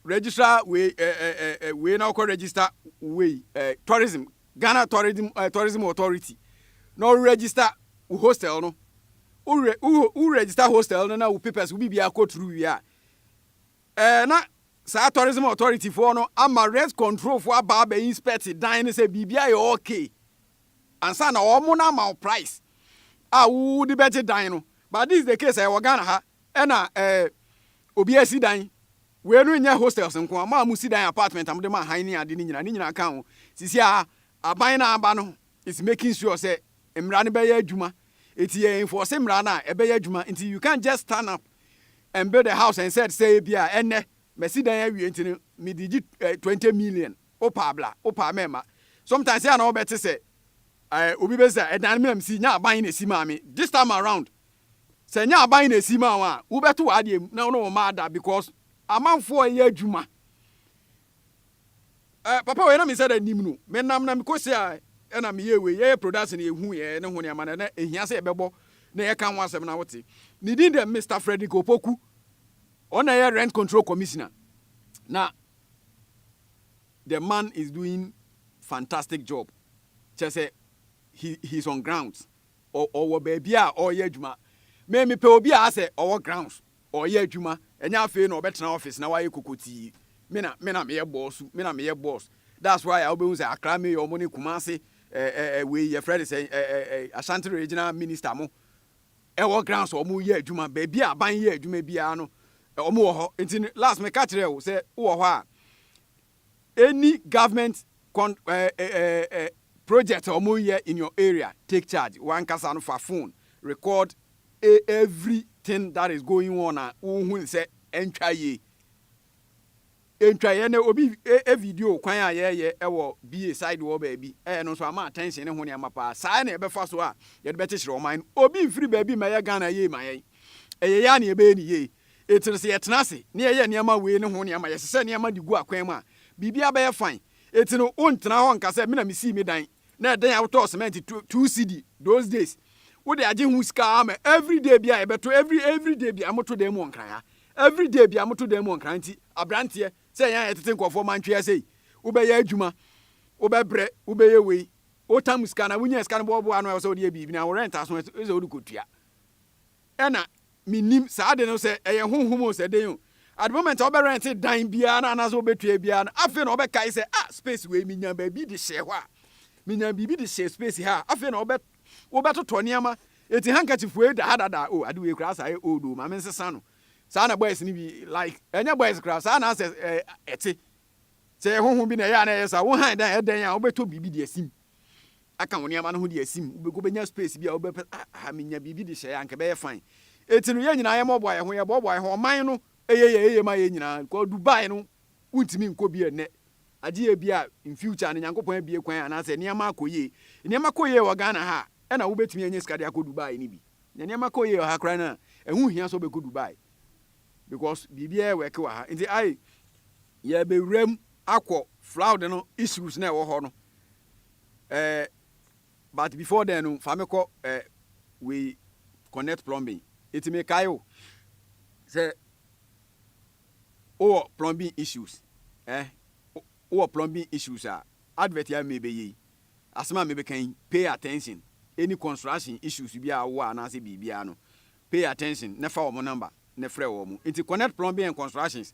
registrar wei ɛɛ ɛɛ wei na wokɔ register wei ɛɛ tourism, Ghana tourism ɛɛ tourism authority na wo register wo hostel no. Wo re wo register hostel no na wo papers wo biribiara kɔ through wie a, Ɛɛ na saa tourism authority foɔ no ama rent control foɔ aba abɛ inspect dan no sɛ biribi ayɛ ok ansa na wɔn na ama wo price a wo de bɛgye dan no but this is the case ɛyɛ wɔ Ghana ha ɛna ɛɛ obi asi dan wei no nyɛ hostels nko a mo a mo si dan apartment a mo de ma han ne ade ne nyina ne nyina ka ho sisi a aban na aba no is making sure sɛ mmara no bɛyɛ adwuma nti yɛ enforce mmara no a ɛbɛyɛ adwuma nti you can't just stand up and build a house and said sɛ ebi a ɛnɛ masi dan awie nti no mede gye eh, 20 million wopaa bla wopaa mɛma sometimes yɛ a na wɔbɛte sɛ eh, obi bɛsi sɛ ɛdan me na mesi nya aban na esi maa me this time around sɛ nya aban na esi maa wɔn a wobɛto w'adeɛ mu na wo ne wɔn ada because amanfoɔ yɛ adwuma Eh papa wei na me nsa da nim no me nam na me kɔ si a ɛna me yɛ wei yɛ yɛ production yɛ hu yɛ ne ho nneɛma na ɛna ehia sɛ yɛbɛbɔ na yɛ ka ho asɛm na wote ne din dɛ Mister Frederick Opoku ɔna yɛ rent control commissioner na the man is doing fantastic job kyɛ sɛ he he's on grounds ɔwɔ baabi a ɔyɛ adwuma me mepɛ obi a asɛ ɔwɔ grounds Ɔreyɛ adwuma, ɛnyɛ afei na ɔbɛtena office na wayɛ kokotii. Me na me na meyɛ bɔɔsu, me na meyɛ boss. That's why a wobɛhu sɛ Accra mayor mo ne Kumasi eh eh eh wei yɛfrɛ no sɛn eh eh eh Ashanti regional minister mo wɔ ground sɛ wɔyɛ adwuma. Baabi a aban yɛ adwuma biara no wɔwɔ hɔ. Nti no last meka kyerɛɛ wo sɛ wowɔ hɔ a Any government con eh, eh, eh, eh, project a wɔyɛ in your area, take charge. Wankasa no fa phone record e, everything that is going on a wohu ne sɛ ɛntwa yie. Ɛntwa yɛ ne obi e, e video kwan a yɛyɛ ɛwɔ BA side wɔ baabi. Ɛyɛ no nso ama attention ne ho nneɛma paa. Saa na yɛbɛfa so a yɛde bɛkyekyere ɔman no. Obi mfiri baabi mmɛyɛ Ghana yie ma yɛn. Ɛyɛ yɛ a na yɛbɛyɛ ne yie. Enti no, sɛ yɛtena ase na yɛyɛ nneɛma wei ne ho nea ɛma yɛhyehyɛ nneɛma de gu akwan mu a, biribiara bɛyɛ fine. Enti no, wonntena hɔ nnka sɛ, Me na misii me dan. Na ɛdɛn a wotɔɔ cement two, two cedi those days. Wode agye ho sika ara ma every day biara yɛbɛto, every, every day biara moto dan mu wɔ Nkran ha. Every day biara moto dan mu wɔ Nkran nti, abranteɛ, sɛ yɛn a yɛtete nkurɔfoɔ mantwea sei, wobɛyɛ adwuma, wobɛbrɛ, wobɛyɛ wei, wotam sika anaa wonyaa sika no boaboa ano a ɛwɔ sɛ wode yɛ biribi no, anaa wo rent aso a ɛsɛ sɛ wode kɔtua. Ɛna me nim saa ade no sɛ ɛyɛ honhom o sɛ den o at the moment a wobɛ rent dan biara no anaasɛ wobɛ tua biara no afei na wobɛ kae sɛ ah space wei me nya baabi de hyɛɛ hɔ a me nya biribi de hyɛɛ space ha a afei na wobɛ wobɛ totɔ nneɛma eti handkerchief wei da ha dada o ade wei koraa saa yɛ old o maame nsesa no saa na boys no bi like ɛnyɛ boys koraa saa na asɛ ɛte sɛ yɛ honhom bi na ɛyɛ a na ɛyɛ saa wo han dan ɛdɛn a wobɛtɔ biribi de asim aka wo nneɛma no ho de asim. Wobɛ wobɛnya space bi a wobɛpɛ sɛ, ah, ha menya biribi de hyɛeɛ a, anka ɛbɛyɛ fine. Enti no, yɛn nyinaa yɛmmɔboa yɛn ho, yɛboaboa yɛn ho. Ɔman no yɛ yɛ yie ma yɛn nyinaa. Because Dubai no, wontumi nkɔ bi ɛnnɛ. Agye yɛ bi a, in future no, Nyankopɔn abue kwan anaasɛ nneɛma akɔ yie. Nneɛma kɔ yie wɔ Ghana ha a, ɛna wobɛtumi anya sika de akɔ Dubai no bi. Na nneɛma kɔ yie wɔ ha koraa no a, ɛho nhia sɛ wobɛkɔ Dubai. Because biribiara work wɔ ha. Enti ai, yɛbɛwura mu akɔ flood no issues no a ɛwɔ hɔ no. Eh but before then no fa me kɔ eh wei connect plumbing eti me kae o sɛ wowɔ plumbing issues eh wowɔ plumbing issues a advert a me bɛyɛ yi asɛm a me bɛka yi pay attention any construction issues bi a wowɔ anaasɛ biribiara no pay attention na fa wɔn number na frɛ wɔn eti connect plumbing and constructions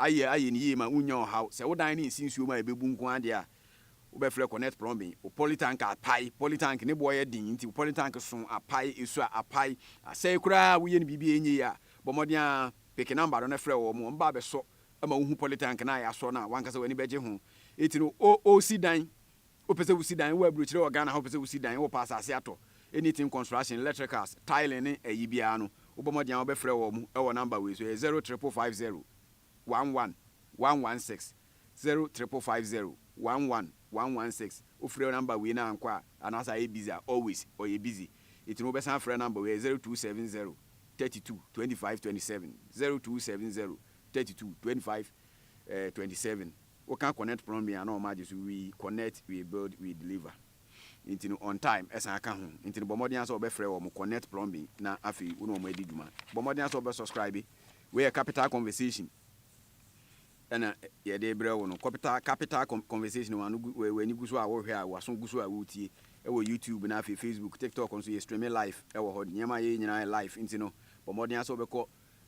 Ayɛ ayɛ no yie ma wonnya ɔhaw. Sɛ wo dan no nsi nsuo mu a ɛbɛbu nko ara deɛ a, wobɛfrɛ Connect Plumbing. Wo poly tank a apae, poly tank ne boɔ yɛ den nti wo poly tank so apae, ɛsu a apae, asɛe koraa a woyɛ no biribi a ɛnyɛ yie a, bɔ mmɔden ara peke number no na frɛ wɔn, wɔn ba abɛsɔ ma wohu poly tank no a yɛasɔ no a w'ankasa w'ani bɛgye ho. Enti no, o, o, si dan. Wo pɛ sɛ wo si dan wɔ abrukyire wɔ Ghana ha, wo pɛ sɛ wo si dan, wo pɛ asase atɔ, anything construction, electricals, tiling ne ayi biara no, wo bɔ mmɔden a wo bɛ frɛ wɔn mo ɛwɔ number wei so, ɛyɛ zero triple five zero, one one, one one six, zero triple five zero, one one, one one six, wo frɛ number wei na ankɔ a, anaasɛ ayɛ busy a, always ɔyɛ busy, eti no wo bɛ san frɛ number wei, ɛyɛ zero two seven zero, thirty two, twenty five, twenty seven, zero two seven zero, thirty two, twenty five, twenty seven. Wo ka connect plumbing a na ɔma agye so we connect we build we deliver nti no on time ɛsan ka ho nti no bɔ mmɔden ara sɛ wɔbɛfrɛ wɔn connect plumbing na afei wo ne wɔn adi dwuma bɔ mmɔden ara sɛ wɔbɛ subscribe wei yɛ capital conversation ɛna yɛde brɛ wo no capital capital conversation wɔn w'ani gu so a wɔhwɛ a wɔaso gu so a wɔretie ɛwɔ YouTube na afei Facebook TikTok nso yɛ streaming live ɛwɔ hɔ nneɛma yɛ nyinaa yɛ live nti no bɔ mmɔden ara sɛ wɔbɛkɔ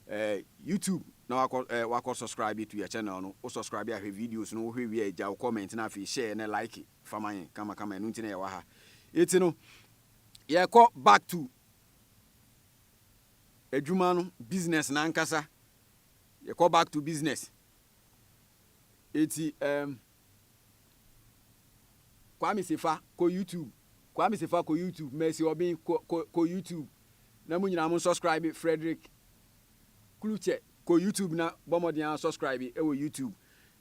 eh, YouTube na wakɔ eh, wakɔ subscribe to yɛ channel no wo subscribe ahwɛ videos no wohwɛ wie a gya wo comment na afei share na like fa ma yɛn kama kama ɛno nti na yɛwɔ ha eti no yɛkɔ back to adwuma no business na ankasa yɛkɔ back to business eti um, Kwame Sefa kɔ YouTube Kwame Sefa kɔ YouTube Mercy Obin kɔ kɔ kɔ YouTube na mo nyinaa mo subscribe Frederick Kluche kɔ YouTube na bɔ mmɔden ara subscribe wɔ YouTube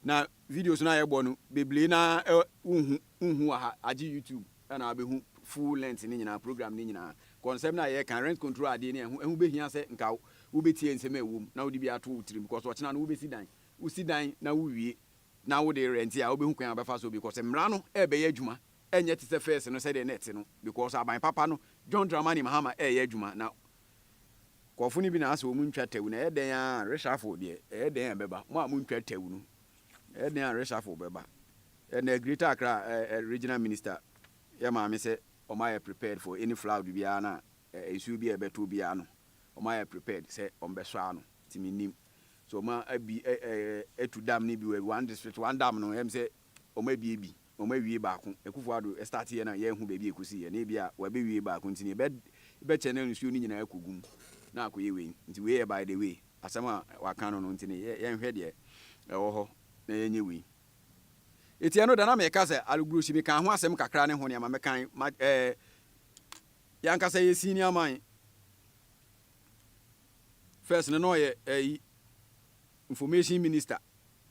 na videos no a yɛbɔ no bebree na wonhu wonhu wɔ ha agye YouTube na wabɛhu full length no nyinaa program no nyinaa kɔ nsɛm no a yɛreka rent control adeɛ no ɛho ɛho bɛhia sɛ nka wobɛtie nsɛm a ɛwom na wode bi ato wo tirim because ɔkyena no wobɛsi dan wosi dan na wowie na wo de rent a wobɛhu kwan a wobɛfa so because mmara no ɛrebɛyɛ adwuma ɛnyɛ te sɛ first no sɛdeɛ na ɛte no because aban papa no John Dramani Mahama ɛreyɛ adwuma na nkurɔfo no bi na asɛ wɔn ntwa tawu na ɛyɛ dɛn a reshuffle deɛ ɛyɛ dɛn a ɛbɛba mo a mo ntwa tawu no ɛyɛ dɛn a reshuffle bɛba ɛnna Greater Accra ɛɛ regional minister yɛ maame sɛ wɔn ayɛ prepared for any flood biara na nsuo bi a ɛbɛto biara no wɔn ayɛ prepared sɛ wɔn bɛsɔ ano ti mi nim. So wɔn abi ɛ ɛ atu dam no bi wɔ one district one dam no ɛm sɛ wɔn abie bi wɔn awie baako Akufo Addo start yɛ na yɛnhu baabi a ɛkɔsi yɛ na ebi a wɔabɛwie baako nti no ɛbɛ bɛkyɛ na nsuo no nyinaa akɔgu mu na akɔyɛ wei nti wei yɛ by the way asɛm a wɔaka no no nti no yɛ yɛnhwɛ deɛ ɛwɔ hɔ na yɛnyɛ wei Eti ɛno da na meka sɛ Alugrosi mekaa ho asɛm kakra ne ho nneɛma mekan ma ɛɛ yɛankasa yɛsii nneɛma yi First no na ɔyɛ ɛyi information minister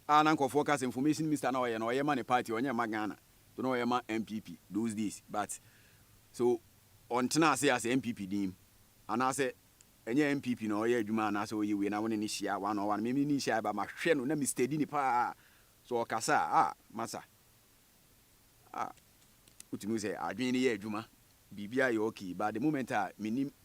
a na nkurɔfoɔ ka sɛ information minister na ɔyɛ na ɔyɛ ma ne party ɔnyɛ ma Ghana to na ɔyɛ ma NPP those days but so ɔntena ase as NPP din mu anaasɛ ɛnyɛ NPP na ɔyɛ adwuma anaasɛ ɔyɛ wei na wo ne ne hyia one on one me ne ne hyia ba mahwɛ no na me steady ne paa so ɔkasa a ah masa ah wotumi sɛ adwene no yɛ adwuma biribi ayɛ okay but the moment a menim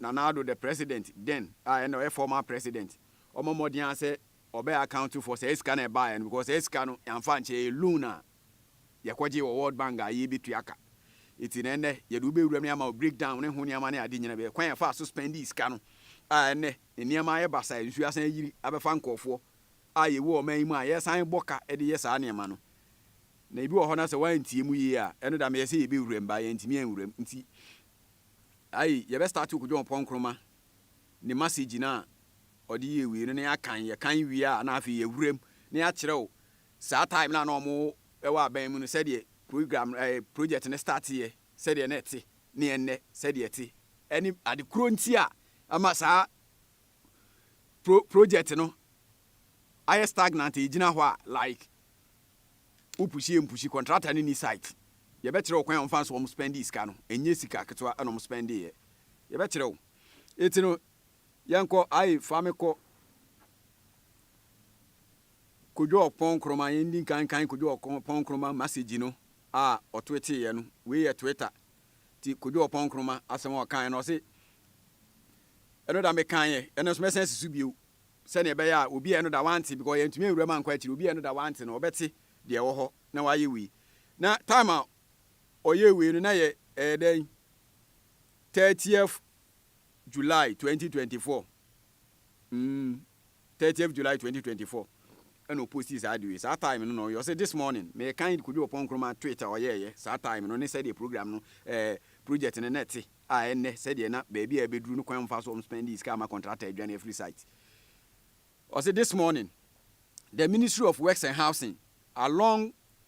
Nana Addo the president then a ɛna ɔyɛ former president ɔmɔ mmɔden ara sɛ ɔbɛ account for saa sika no a ɛbaeɛ no because saa sika no yɛamfa ankyɛ ɛyɛ loan a yɛkɔgye wɔ World Bank a yɛbɛtua ka nti na ɛnɛ yɛde wobɛwura mu na yɛama wo break down ne ho nneɛma ne ade nyina bɛyɛ kwan yɛfaa so spendi sika no a ɛnɛ ne nneɛma ayɛ basaa nsuo asan ayiri abɛfa nkɔɔfoɔ a yɛwɔ ɔman yi mu a yɛsan bɔ ka de yɛ saa nneɛma no na ebi wɔ hɔ na sɛ woantie mu yie a ɛno da meyɛ sɛ yɛbɛwura mu baa yɛantumi anwura mu nti Ayi yɛbɛ start wo Kojo Ɔpɔn Nkrumah ne masegi no a ɔde yɛ wie no na yɛakan, yɛkan wie a na afei yɛawura mu na yɛakyerɛ wo saa time no a na ɔmo wɔ aban mu no sɛdeɛ program no ɛɛ project no start yɛ sɛdeɛ na ɛte ne ɛnnɛ sɛdeɛ ɛte ɛne ade korɔ nti a ama saa pro project no ayɛ stagnant egyina hɔ a like wo push yɛ mpushi contractor no ni site yɛbɛkyerɛ wo kwan a wɔmfa nso wɔn spending sika no ɛnyɛ sika ketewa ɛna wɔn spending yɛ yɛbɛkyerɛ wo eti no yɛnkɔ ayi fa me kɔ kodwo ɔpɔn nkroma yɛn di nkankan kodwo ɔpɔn nkroma message no a ɔtweeteeɛ no wei yɛ twitter Nti Kojo Oppong Nkrumah asɛm a ɔkaeɛ no, ɔse, Ɛno da mekaeɛ, ɛnnɛ nso mɛsan asi so bio, sɛdeɛ ɛbɛyɛ a obi a ɛno da wante, because yɛantumi anwura mu ankɔ akyiri, obi a ɛno da wante no, ɔbɛte deɛ ɛwɔ hɔ na wayɛ wei. Na time a ɔyɛɛ wei no, na ɛyɛ, ɛyɛ dɛn, thirtieth July twenty twenty four. Mm. 30th July 2024 ɛna ɔpostii saa ade wei. Saa time no na ɔyɛ ɔse this morning merekan Kojo Oppong Nkrumah tweet a ɔyɛɛyɛ saa time no ne sɛdeɛ program no eh, project no na ɛte a ɛnnɛ sɛdeɛ na baabi a ɛbɛduru no kwan mfa so ɔm spendii sika ama contractor adwane afiri site. Ɔse this morning the Ministry of Works and Housing along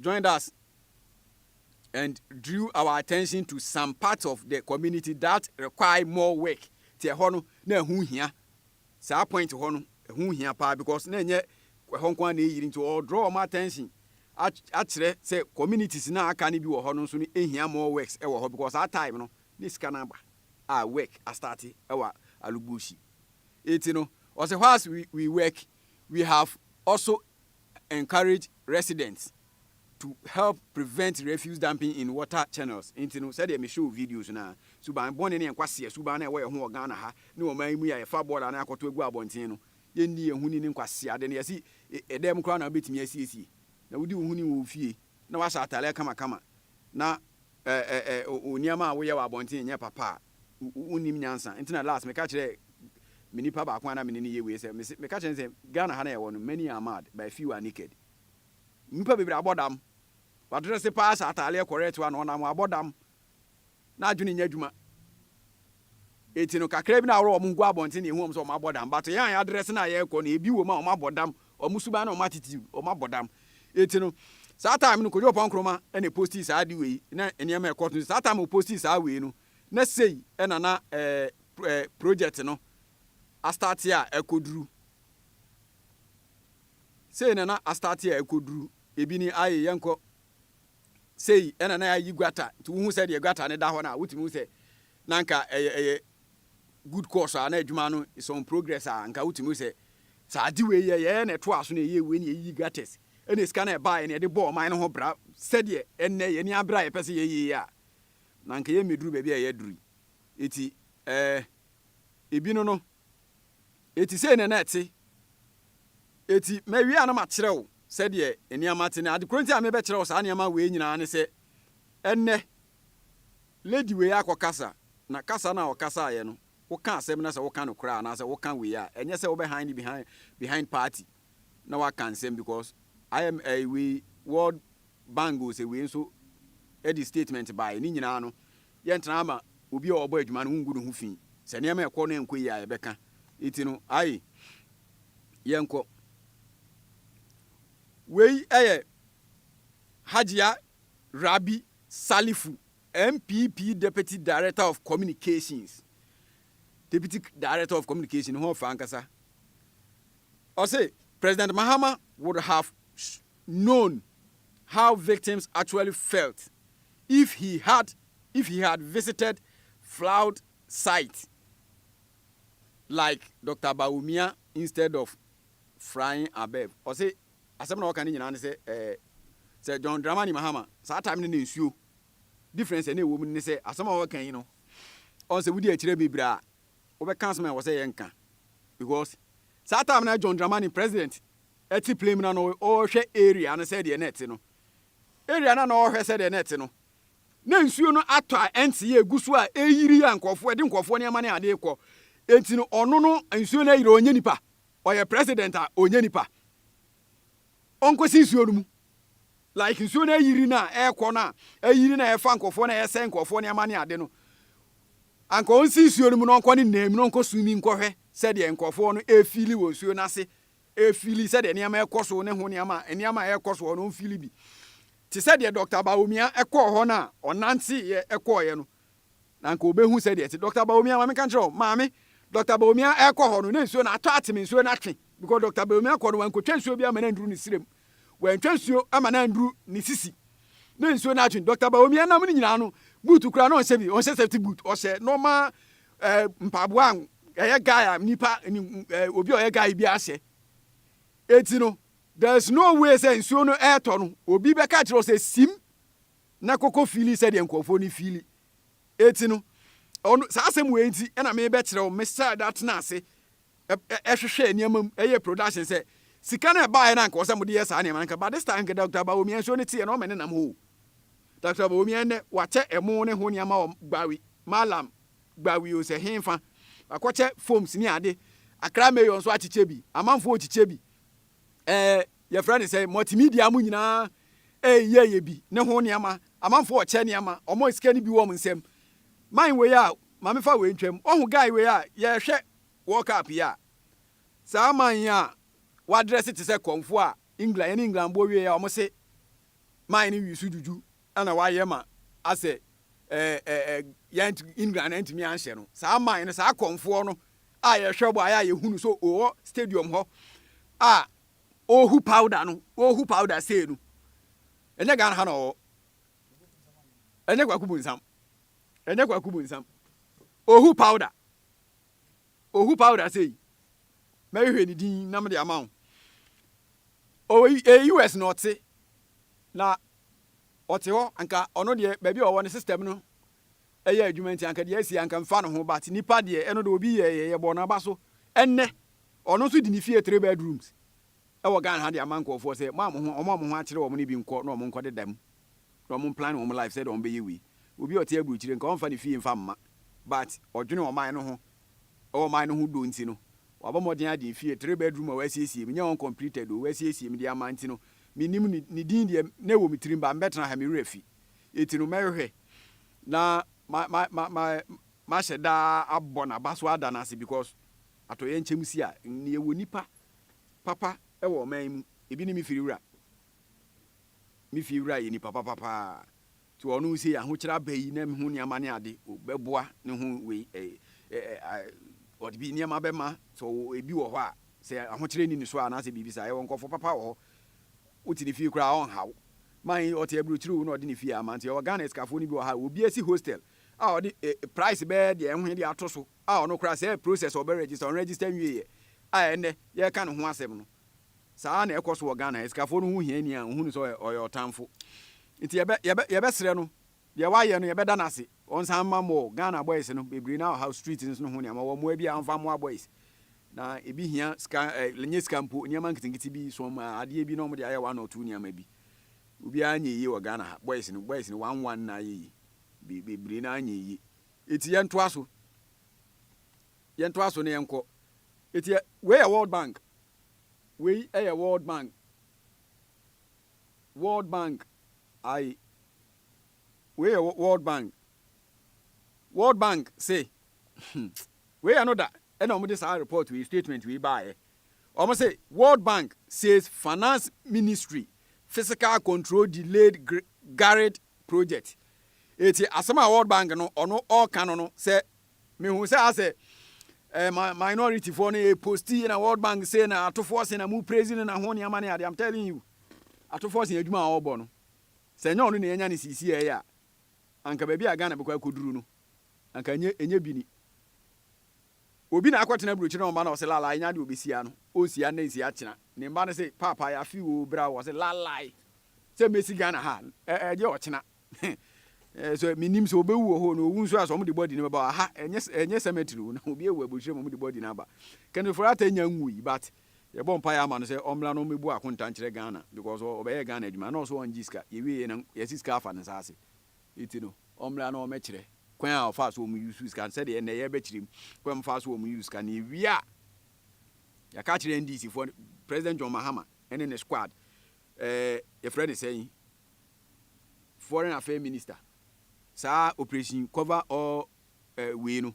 joined us and drew our attention to some parts of the community that require more work. Ti ɛhɔ no na ɛho hia. Saa point hɔ no ɛho hia paa because na ɛnyɛ ɛhɔ nko ara na ɛyiri nti ɔ draw wɔn attention akyerɛ sɛ communities na aka no bi wɔ hɔ no nso no ɛhia more works ɛwɔ hɔ because saa time no ne sika no aba a work astarte ɛwɔ Alugbusi. Eti no ɔsɛ whilst we, we work we have also encourage residents to help prevent refuse dumping in water channels. Nti no, sɛdeɛ me show videos no ara, suban bɔne ne nkwasea suban no a ɛwɔ yɛn ho wɔ Ghana ha ne ɔman yi mu yi a yɛfa bɔɔla no akɔto agu abɔnten no, yɛnni yɛn ho ni ne nkwaseade no, yɛse ɛdɛm koraa na wobɛtumi asiesie, na wodi wo ho ni wɔ wo fie na woahyɛ atadeɛ kamakama na ɛ ɛ ɛ wo nneɛma a woyɛ wɔ abɔnten nyɛ papa a, wo nnim nyansa nti na last meka kyerɛɛ me nipa baako a na me ne no yɛ wei sɛ mese meka kyerɛ no sɛ Ghana ha na yɛwɔ no many are mad but few are naked nnipa bebree abɔ dam wadresse paa hyɛ ataaleɛ correct wa na ɔnam abɔ dam na adwene nyɛ adwuma eti no kakra bi na aworo wɔn ho gu abɔnten na ehu wɔn sɛ wɔn abɔ dam but yɛn a yɛadresse na yɛkɔ no ebi wɔ mu a wɔn abɔ dam Wɔn suban ne wɔn attitude, wɔn abɔ dam. Enti no, saa time no Kojo Oppong Nkrumah na ɛpostii saa ade wei na nneɛma a ɛkɔɔ so. Saa time a ɔpostii saa wei no, na sei na na eh, eh, project no astarte a ɛkɔduru. Sei na na astarte a ɛkɔduru. Ebi ni, aye, yɛnkɔ. sei ɛna na yɛayi gutter nti wohu sɛ deɛ gutter no da hɔ no a wotumi hu sɛ na nka ɛyɛ ɛyɛ good course a na adwuma no is on progress a nka wotumi hu sɛ sɛ ade wei yɛ yɛyɛ na ɛtoa so na ɛyɛ wei na yɛyiyi gutters ɛna sika no ɛbaeɛ na yɛde bɔɔ ɔman no ho bra sɛdeɛ ɛnnɛ yɛne abere a yɛpɛ sɛ yɛyɛ yi a na nka yɛmmɛduru baabi a yɛaduru yi eti ɛɛ ebi no no Eti sei na na ɛte. Eti mawie a na makyerɛ wo sɛdeɛ nneɛma te. Na ade korɔ nti a merebɛkyerɛ wo saa nneɛma wei nyinaa ne sɛ, ɛnnɛ, lady wei akɔkasa, na kasa no a ɔkasaeɛ no, woka asɛm no a sɛ woka nokorɛ a, anaasɛ woka wei a, ɛnyɛ sɛ wobɛ hide behind, behind party na woaka nsɛm because IMF wei, World Bangles ewei nso de statement baeɛ. Ne nyinaa no, yɛntena ama obi a ɔbɔ adwuma no wongu ne ho fi. Sɛ nneɛma ɛkɔ na ɛnkɔ yie a yɛbɛka. Enti no, aye, yɛnkɔ. Wei yɛ Hajia Rabi Salifu, NPP Deputy Director of Communications. Deputy Director of Communication, ne ho ɔfɛ ankasa. Ɔse, President Mahama would have known how victims actually felt if he had if he had visited floud site like Doctor Bawumia instead of frying Abeb. Ɔse asɛm na ɔka ne nyinaa ne sɛ eh, sɛ John Dramani Mahama saa time no na nsuo difference ɛna ɛwɔ mu ne sɛ asɛm a ɔka yi no ɔn sɛ wodi akyire bebree a wobɛka asɛm a ɛwɔ sɛ yɛnka because saa time na John Dramani president ɛte plem na na ɔrehwɛ area no sɛdeɛ na ɛte no, area no a na ɔrehwɛ sɛdeɛ na ɛte no, na nsuo no atɔ a ɛnte yɛ egu so a ɛreyiri a nkurɔfoɔ ɛde nkurɔfoɔ nneɛma ne adeɛ kɔ, enti no ɔno no nsuo no ayiri ɔnyɛ nipa, ɔyɛ president a ɔnyɛ nipa, ɔnkɔsi nsuo no mu, like nsuo no ayiri no a ɛrekɔ no a ayiri na ɛrefa nkurɔfoɔ na ɛresɛe nkurɔfoɔ nneɛma ne ade no, anka ɔnsi nsuo no mu na ɔnkɔ ne nam na ɔnkɔ swimming nkɔhwɛ sɛdeɛ nkurɔfoɔ no ɛrefili wɔ nsuo no ase ɛfili sɛdeɛ nneɛma rekɔ so ne ho nneɛma a nneɛma a ɛrekɔ so hɔ no ɔmfili bi. Te sɛ deɛ Dɔkta Bawumia kɔɔ hɔ no a ɔnanteeɛ kɔeɛ no, na anka ɔbɛhu sɛdeɛ ɛte. Dɔkta Bawumia, ma menka nkyerɛ wo, maame, Dɔkta Bawumia rekɔ hɔ no, na nsuo no atɔ atene, nsuo no atwe, because Dɔkta Bawumia kɔ no, wankɔtwa nsuo biara ma no anduru ne srɛ mu, wantwa nsuo ama no anduru ne sisi, na nsuo no atwe. Dɔkta Bawumia nam no nyinaa no, boot koraa na ɔnhyɛ bi, ɔnhyɛ safety boot, ɔhyɛ normal Ɛɛ mpaboa a ɛyɛ guy a nipa ni ɛɛ obi a ɔyɛ guy bi ahyɛ. Eti no there is no way sɛ nsuo no ɛɛtɔ no obi bɛka kyerɛ sɛ sim na koko fiili sɛdeɛ nkurɔfoɔ no fiili. Eti no ɔno saa asɛm wei nti ɛna mebɛkyerɛ wo mesɛ da tena ase ɛhwehwɛɛ nneɛma mu, ɛyɛɛ production sɛ, sika no a ɛbaeɛ no anka ɔsɛ mode yɛ saa nneɛma no anka, but this time anka Doctor Bawumia nsuo no teɛ na ɔmene nam hoo. Doctor Bawumia nnɛ wakyɛ ɛmo ne ho nneɛma wɔ Gbawi, Mallam Gbawi o sɛ henfa, wakɔkyɛ foams ne ade, Accra Mayor nso akyekyɛ bi, amanfoɔ rekyekyɛ bi, ɛɛ yɛfrɛ no sɛ multimedia mo nyinaa ɛreyɛyɛ bi ne ho nneɛma, amanfoɔ rekyɛ nneɛma, wɔn sika no bi wɔ wɔn nsam. Man wei a, ma mefa wei ntwam, woahu guy wei a, yɛrehwɛ World Cup yi a, saa aman yi a wɔadrɛse te sɛ kɔmfoɔ a England, yɛne England bɔ wieeɛ a, wɔse man no wii so dwudwu na wɔayɛ ma asɛ eh, eh, eh, yɛn England antumi anhyɛ no. Saa man no, saa kɔmfoɔ no a yɛhwɛ bɔ ayɛ a yɛhunu so ɔwɔ stadium hɔ a ɔrehu powder no, ɔrehu powder sei no, ɛnyɛ Ghana ha na ɔwɔ, ɛnyɛ kwaku bu nsam, ɛnyɛ kwaku bu nsam, ɔhu powder. Ohu powder sei. Mɛhwehwɛ ne din na mede ama wo. Ɔwɔ ɛyɛ US na ɔte. Na ɔte hɔ anka ɔno deɛ baabi a ɔwɔ no system no ɛyɛ adwuma nti anka deɛ asi anka mfa no ho but nipa deɛ ɛno deɛ obi yɛ yɛ yɛbɔ n'aba so ɛnɛ ɔno nso di ne fie three bedrooms. wɔ Ghana ha de ama nkorɔfoɔ sɛ mo a mo ho wɔn a mo ho akyere wɔn no bi nkɔ na wɔn nkɔ deda mu na wɔn plan wɔn life sɛdeɛ wɔn bɛyɛ wei obi a ɔte aburukyire nka ɔmfa ne fie mfa mma but ɔdwene ɔman no ho ɛwɔ ɔman no ho dɔ nti no wabɔ mmɔden agye efie three bedroom a wasiesie mu nyɛ uncompleted o wasiesie mu de ama nti no menim ne ne din deɛ na ɛwɔ me tirim ba mbɛtena ha me werɛ fi eti no mɛhwehwɛ na ma ma ma ma mahyɛ daa abɔ n'aba so ada no ase because atɔyɛ nkyɛm si a nea ɛwɔ nipa papa wɔ ɔman yi mu. Ebi ne me fie wura. Me fie wura yɛ nipa papa paa. Nti wɔ ɔno sei ahokyerɛ aba yi na me ho nneɛma ne ade bɛboa ne ho wei eh, eh, eh, ɔde bi nneɛma bɛma sɛ ebi wɔ hɔ a sɛ ahokyerɛ ni ne so a anaasɛ biribi saa yɛwɔ nkɔfo papa wɔ hɔ wote ne fie koraa ɔnhaw man ɔte aburokyiri wo na ɔde ne fie ama nti yɛwɔ Ghana sikafoɔ no bi wɔ ha obi asi hostel a ɔde eh, price bɛɛ deɛ ɛho deɛ ato so a ɔno koraa sɛɛ process a ɔbɛ register, ɔnregister nwieɛ a ɛnnɛ yɛreka ne ho asɛm no, saa ara na ɛkɔ so wɔ Ghana. Asikafoɔ no ho hia ni a wɔhu no sɛ ɔyɛ ɔyɛ ɔtamfo. Nti yɛbɛ yɛbɛ yɛbɛsrɛ no, deɛ wayɛ no yɛbɛda no ase, ɔnsan mma more. Ghana boys no bebree no ara ɔhaw street no ho nneɛma, wɔn mmoa bi a wɔmfa mmoa boys. Na ebi hia sika ɛ ɛnyɛ sika mpo, nneɛma nketenkete bi, some a adeɛ bi na wɔde ayɛ one or two nneɛma bi. Obiara nyɛ yie wɔ Ghana ha, boys no boys no one one na ayɛ yie, be bebree no ara nyɛ yie. Eti yɛntoa so. Yɛntoa so na yɛnkɔ. Eti ɛ, wei yɛ World Bank. Wei yɛ World Bank. World Bank. Aye. Wei yɛ World Bank. World Bank se, hmm, wei yɛ no da ɛna wɔn de saa report wei, statement wei baayɛ. Wɔn se, World Bank says Finance Ministry fiscal control delayed Garrett project eti asɛm a world bank no ɔno ɔɔka no no sɛ mehu sɛ asɛ eh, ma minority foɔ no yɛ post yɛ na world bank sɛ na atofoɔ se na mu praise no na ho nneɛma ne ade i'm telling you atofoɔ se adwuma a ɔbɔ no sɛ nyɛ ɔno na yɛnya ne sisi a ɛyɛ a anka baabi a Ghana bɛkɔ akɔduru no anka enye enye bi ni Obi na akɔtena aburokyire na ɔma na ɔse lalae nya deɛ ɔbɛsia no ɔnsia nnɛ nsia kyena ne mma no se paapa yafe oo bra oo ɔse lalae sɛ mɛsi Ghana ha ɛgye ɔkyena he so mennim sɛ ɔbɛwu wɔ hɔ no ɔwu nso a sɛ ɔmo de body no bɛba aha ɛnyɛ ɛnyɛ cemetery oo na obi awu aburokyire ma ɔmo de body no aba Kenneth Foriate nya nwui but yɛbɔ mpaeɛ ama no sɛ ɔmmra na ɔmmɛbu akonta nkyerɛ Ghana because ɔbɛyɛɛ Ghana adwuma na ɔse ɔngye sika yɛwie yɛ na yɛse sika afa ne nsa ase Ntsi no, ɔmbra na ɔmbɛkyerɛ kwan a ɔfaa so wɔ mu usuu sika no, sɛdeɛ ndɛ yɛrebɛkyerɛ mu kwan a wɔfaa so wɔ mu use sika no. Yewie a, yɛaka akyerɛ NDC foɔ, President John Mahama ne ne squad, eh, yɛfrɛ no sɛn, Foreign Affairs Minister, saa operation cover all eh, wei no,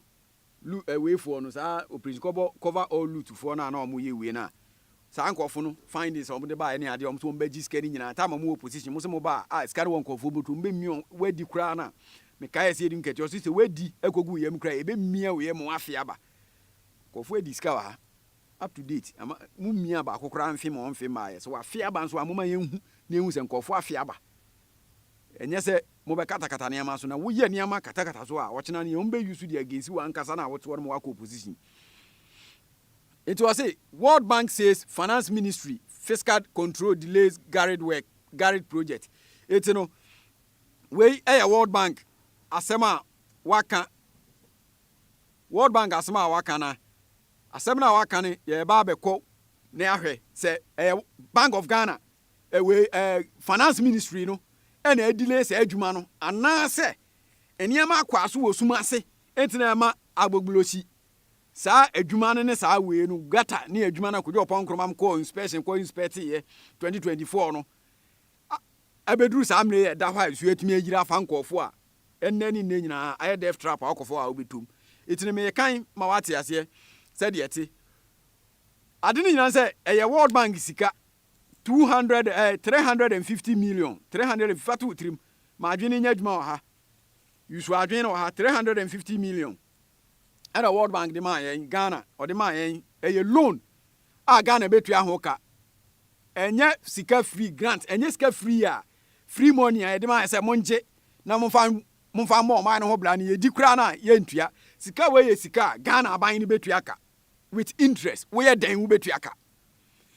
Lu ɛwei foɔ no saa operation kɔbɔ cover all loot foɔ no a na ɔmo yɛ ɛwei no a saa nkorɔfo no findings a ɔmo de baeɛ ne adeɛ a ɔmo se ɔmo bɛ gye sika no nyinaa time a ɔmo wɔ opposition mo se mo ba a sika no wɔ nkorɔfoɔ bɔtɔ ɔmo bɛ mia ɔmo wadi koraa no a me kae ɛse yɛdi nkatua ɔse sɛ wadi ɛkɔ gu wo yam koraa a yɛbɛ mia wo yam wafee aba nkorɔfoɔ adi sika wɔ ha. up to date ama mo mia baako koraa mfe ma ɔmfe mmaeɛ sɛ wafe aba nso a moma yɛnhu na yɛhu sɛ nkurɔfoɔ afe aba ɛnyɛ sɛ mobɛkatakata nneɛma so na woyɛ nneɛma katakata so a ɔkyena no yɛ wɔn bɛ use de against wo ankasa na wotoɔ no ma wakɔ opposition nti ɔse World Bank says finance ministry fiscal control delays garage work garage project eti no wei ɛyɛ World Bank asɛm a waka World Bank asɛm a waka na Asɛm no a waka no yɛreba abɛkɔ na ahwɛ sɛ ɛyɛ Bank of Ghana wei ɛɛ Finance Ministry no ɛna ɛdelay saa adwuma no anaasɛ nneɛma akwaa so wɔ sum ase nti na ɛma agboglosi saa adwuma no ne saa wei no gata ne adwuma no a Kojo Ɔpɔn Nkrumah kɔɔ inspection kɔ inspect yɛ 2024 no abɛduru saa mmerɛ yɛ ɛda hɔ a nsuo atumi ayiri afa nkɔɔfo a Ɛnnɛ ne nnɛ nyinaa, ayɛ death trap a ɔkɔfɔ a wobɛtɔ mu. Enti no merekan ma woate aseɛ sɛdeɛ ɛte. Ade no nyinaa ne sɛ, ɛyɛ World Bank sika, 200, eh, 350 million, 300, fa to wo tirim ma adwene no nyɛ adwuma wɔ ha. Use w'adwene no wɔ ha, 350 million ɛna World Bank de maa yɛn, Ghana, ɔde maa yɛn. Ɛyɛ loan a Ghana bɛtua ho ka. Ɛnyɛ sika free grant, ɛnyɛ sika free a free money a yɛde ma yɛ sɛ mongye na momfa momfa mmɔ ɔman no ho bra no yɛdi koraa no a yɛntua sika wei yɛ sika a Ghana aban no bɛtua ka with interest woyɛ dɛn wobɛtua ka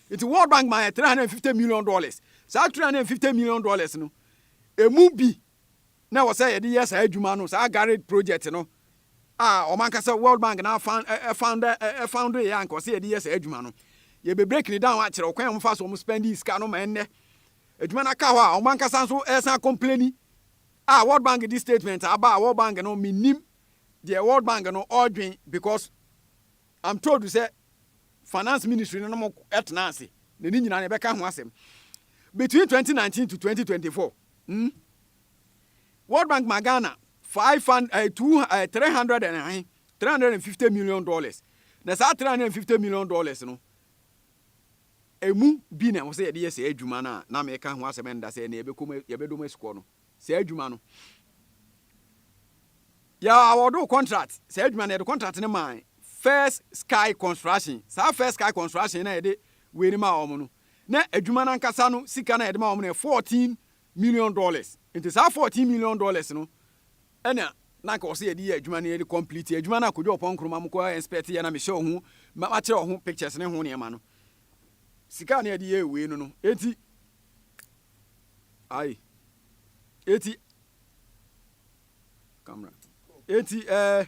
nti World Bank ma yɛ 350 million dollars saa 350 million dollars no ɛmu bi na ɛwɔ sɛ yɛde yɛ saa adwuma no saa Garrett project no a ɔman kasa World Bank na found found yɛ anka ɔsɛ yɛde yɛ saa adwuma no yɛbɛbreak ne down akyerɛ ɔkwan a wɔfa so wɔn spending sika no ma ɛnnɛ adwuma no aka hɔ a wɔn ankasa nso resan akɔmpleni a World Bank de statement a aba a World Bank no mennim deɛ World Bank no ɔredwen because I'm told sɛ finance ministry no nom ɛtena ase na ne nyinaa no ɛbɛka ho asɛm between 2019 to 2024 hmm? World Bank ma Ghana 500, uh, 200, uh, 300 and, uh, 350 million dollars na saa 350 million dollars no Emu bi na ɛwɔ sɛ yɛde yɛ saa adwuma no a na meka ho asɛm nnda sɛ ɛnnɛ yɛbɛkɔ mu, yɛbɛdɔ mu asukɔ no. Saa adwuma no, yɛ awɔɔdoo kɔntrat, saa adwuma no yɛde kɔntrat no maa First Sky Construction. Saa First Sky Construction no a yɛde wei no maa wɔn no, na adwuma no ankasa no sika no a yɛde ma wɔn no yɛ fourteen million dollars. Nti saa fourteen million dollars no, Ɛna na anka ɔsɛ yɛde yɛ adwuma no yɛde complete adwuma no a Kojo Ɔpɔn Nkrumah mo kɔ inspect yɛ na mehyɛ ɔho makyerɛ ɔho pictures ne ho nneɛma no sika a na yɛde yɛ wei no no eti ayi eti camera eti ɛɛ.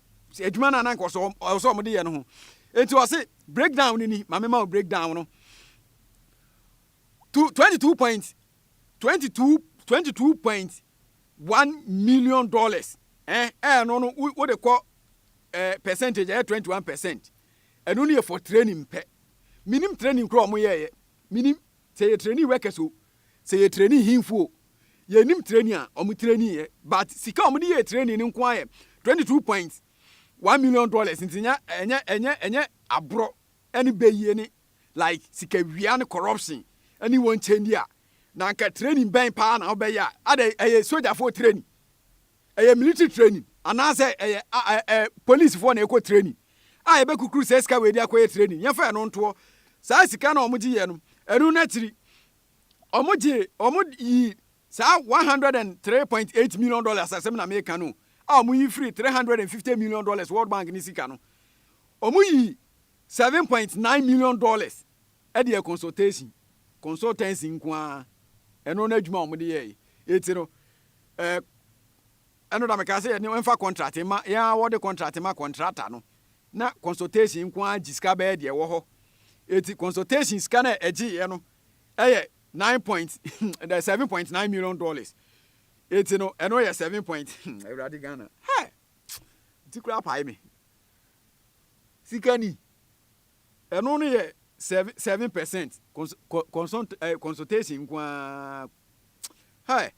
adwuma no a na anka ɔsɛ ɔsɛ wɔn de yɛ no ho eti ɔse breakdown no ni maame ma o breakdown no two twenty two point twenty two twenty two point one million dollars ɛn eh, ɛyɛ eh, no no wo de kɔ ɛɛ eh, percentage ɛyɛ twenty one percent ɛno no yɛ for training pɛ minim training kura ɔmo yɛɛyɛ minim sɛ yɛ training workers o Sɛ yɛ training hinfo o, yɛ nim training a ɔmo training yɛ but sika a ɔmo de yɛɛ training no nko ara yɛ twenty two point one million dollars nti nya ɛnyɛ ɛnyɛ ɛnyɛ aborɔ ɛne bɛyie ne like sika wia ne corruption ɛne wɔn kyɛndi a na anka training bɛn paa na ɔbɛyɛ a adɛ ɛyɛ sojafoɔ training. Ɛyɛ military training anaasɛ ɛyɛ ɛ polisifoɔ na ɛkɔ training a yɛbɛkukuru saa sika wei de akɔyɛ training yɛmfa ɛno ntoɔ saa sika no a wɔgye yɛ no ɛno no akyiri wɔn gye wɔn yi saa 103.8 million dollars asɛm na meka no a wɔn yi firi 350 million dollars world bank ne sika no wɔn yi 7.9 million dollars ɛde yɛ consultation consultancy nko ara ɛno no adwuma wɔn de yɛ yi eti no Eh, ɛno da mekaa sɛ yɛne ɛmfa contract mma, yɛn ara wɔde contract ma contractor no, na consultation nko ara gye sika bɛyɛ deɛ ɛwɔ hɔ. Eti consultation sika no a ɛgyeeɛ no yɛ nine point, the seven point nine million dollars. Eti no, ɛno yɛ seven point, Awurade Ghana, hɛ! Ti koraa pae me. Sika ni. Ɛno no yɛ seven seven percent cons co consult eh, consultation nko ara. Hai,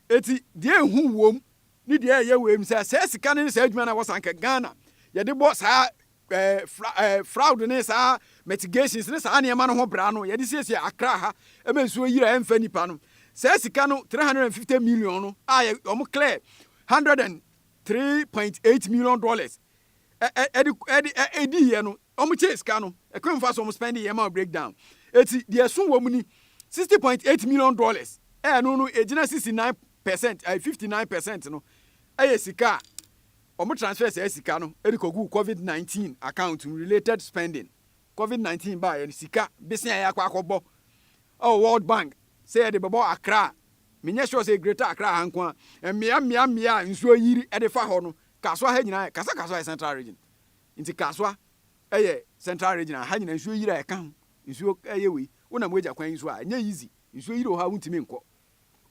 eti deɛ ehu wom ne deɛ ɛyɛ wei mu sɛ saa sika no ne saa adwuma no a wɔsan ka Ghana yɛde bɔ saa eh, fra, eh, fraud ne saa mitigations ne saa nneɛma no ho bra no yɛde siesie Accra ha ɛma nsuo yiri a ɛmfa nipa no saa sika no 350 million no a wɔn clear 103.8 million dollars ɛde ɛde ɛdi yɛ no wɔn kyɛ sika no ɛkwan fa so wɔn spend yɛ ma break down eti deɛ ɛso wɔn ni sixty point eight million dollars ɛno no egyina sixty nine percent ɛyɛ fifty nine percent no ɛyɛ sika a wɔn transfer saa sika no ɛde kɔ gu covid nineteen account related spending covid nineteen baa yɛ no sika besia yɛ akɔ akɔbɔ ɛwɔ world bank sɛ yɛde bɛbɔ akra menyɛ sure sɛ greater akra ha nko a mmea mmea mmea nsuo yiri ɛde fa hɔ no Kasoa ha nyinaa yɛ kasa kasoa yɛ central region nti kasoa yɛ central region a ha nyinaa nsuo yiri a ɛka ho nsuo yɛ wei wonam wagya kwan yi so a ɛnyɛ easy nsuo yiri wɔ hɔ a wontumi nkɔ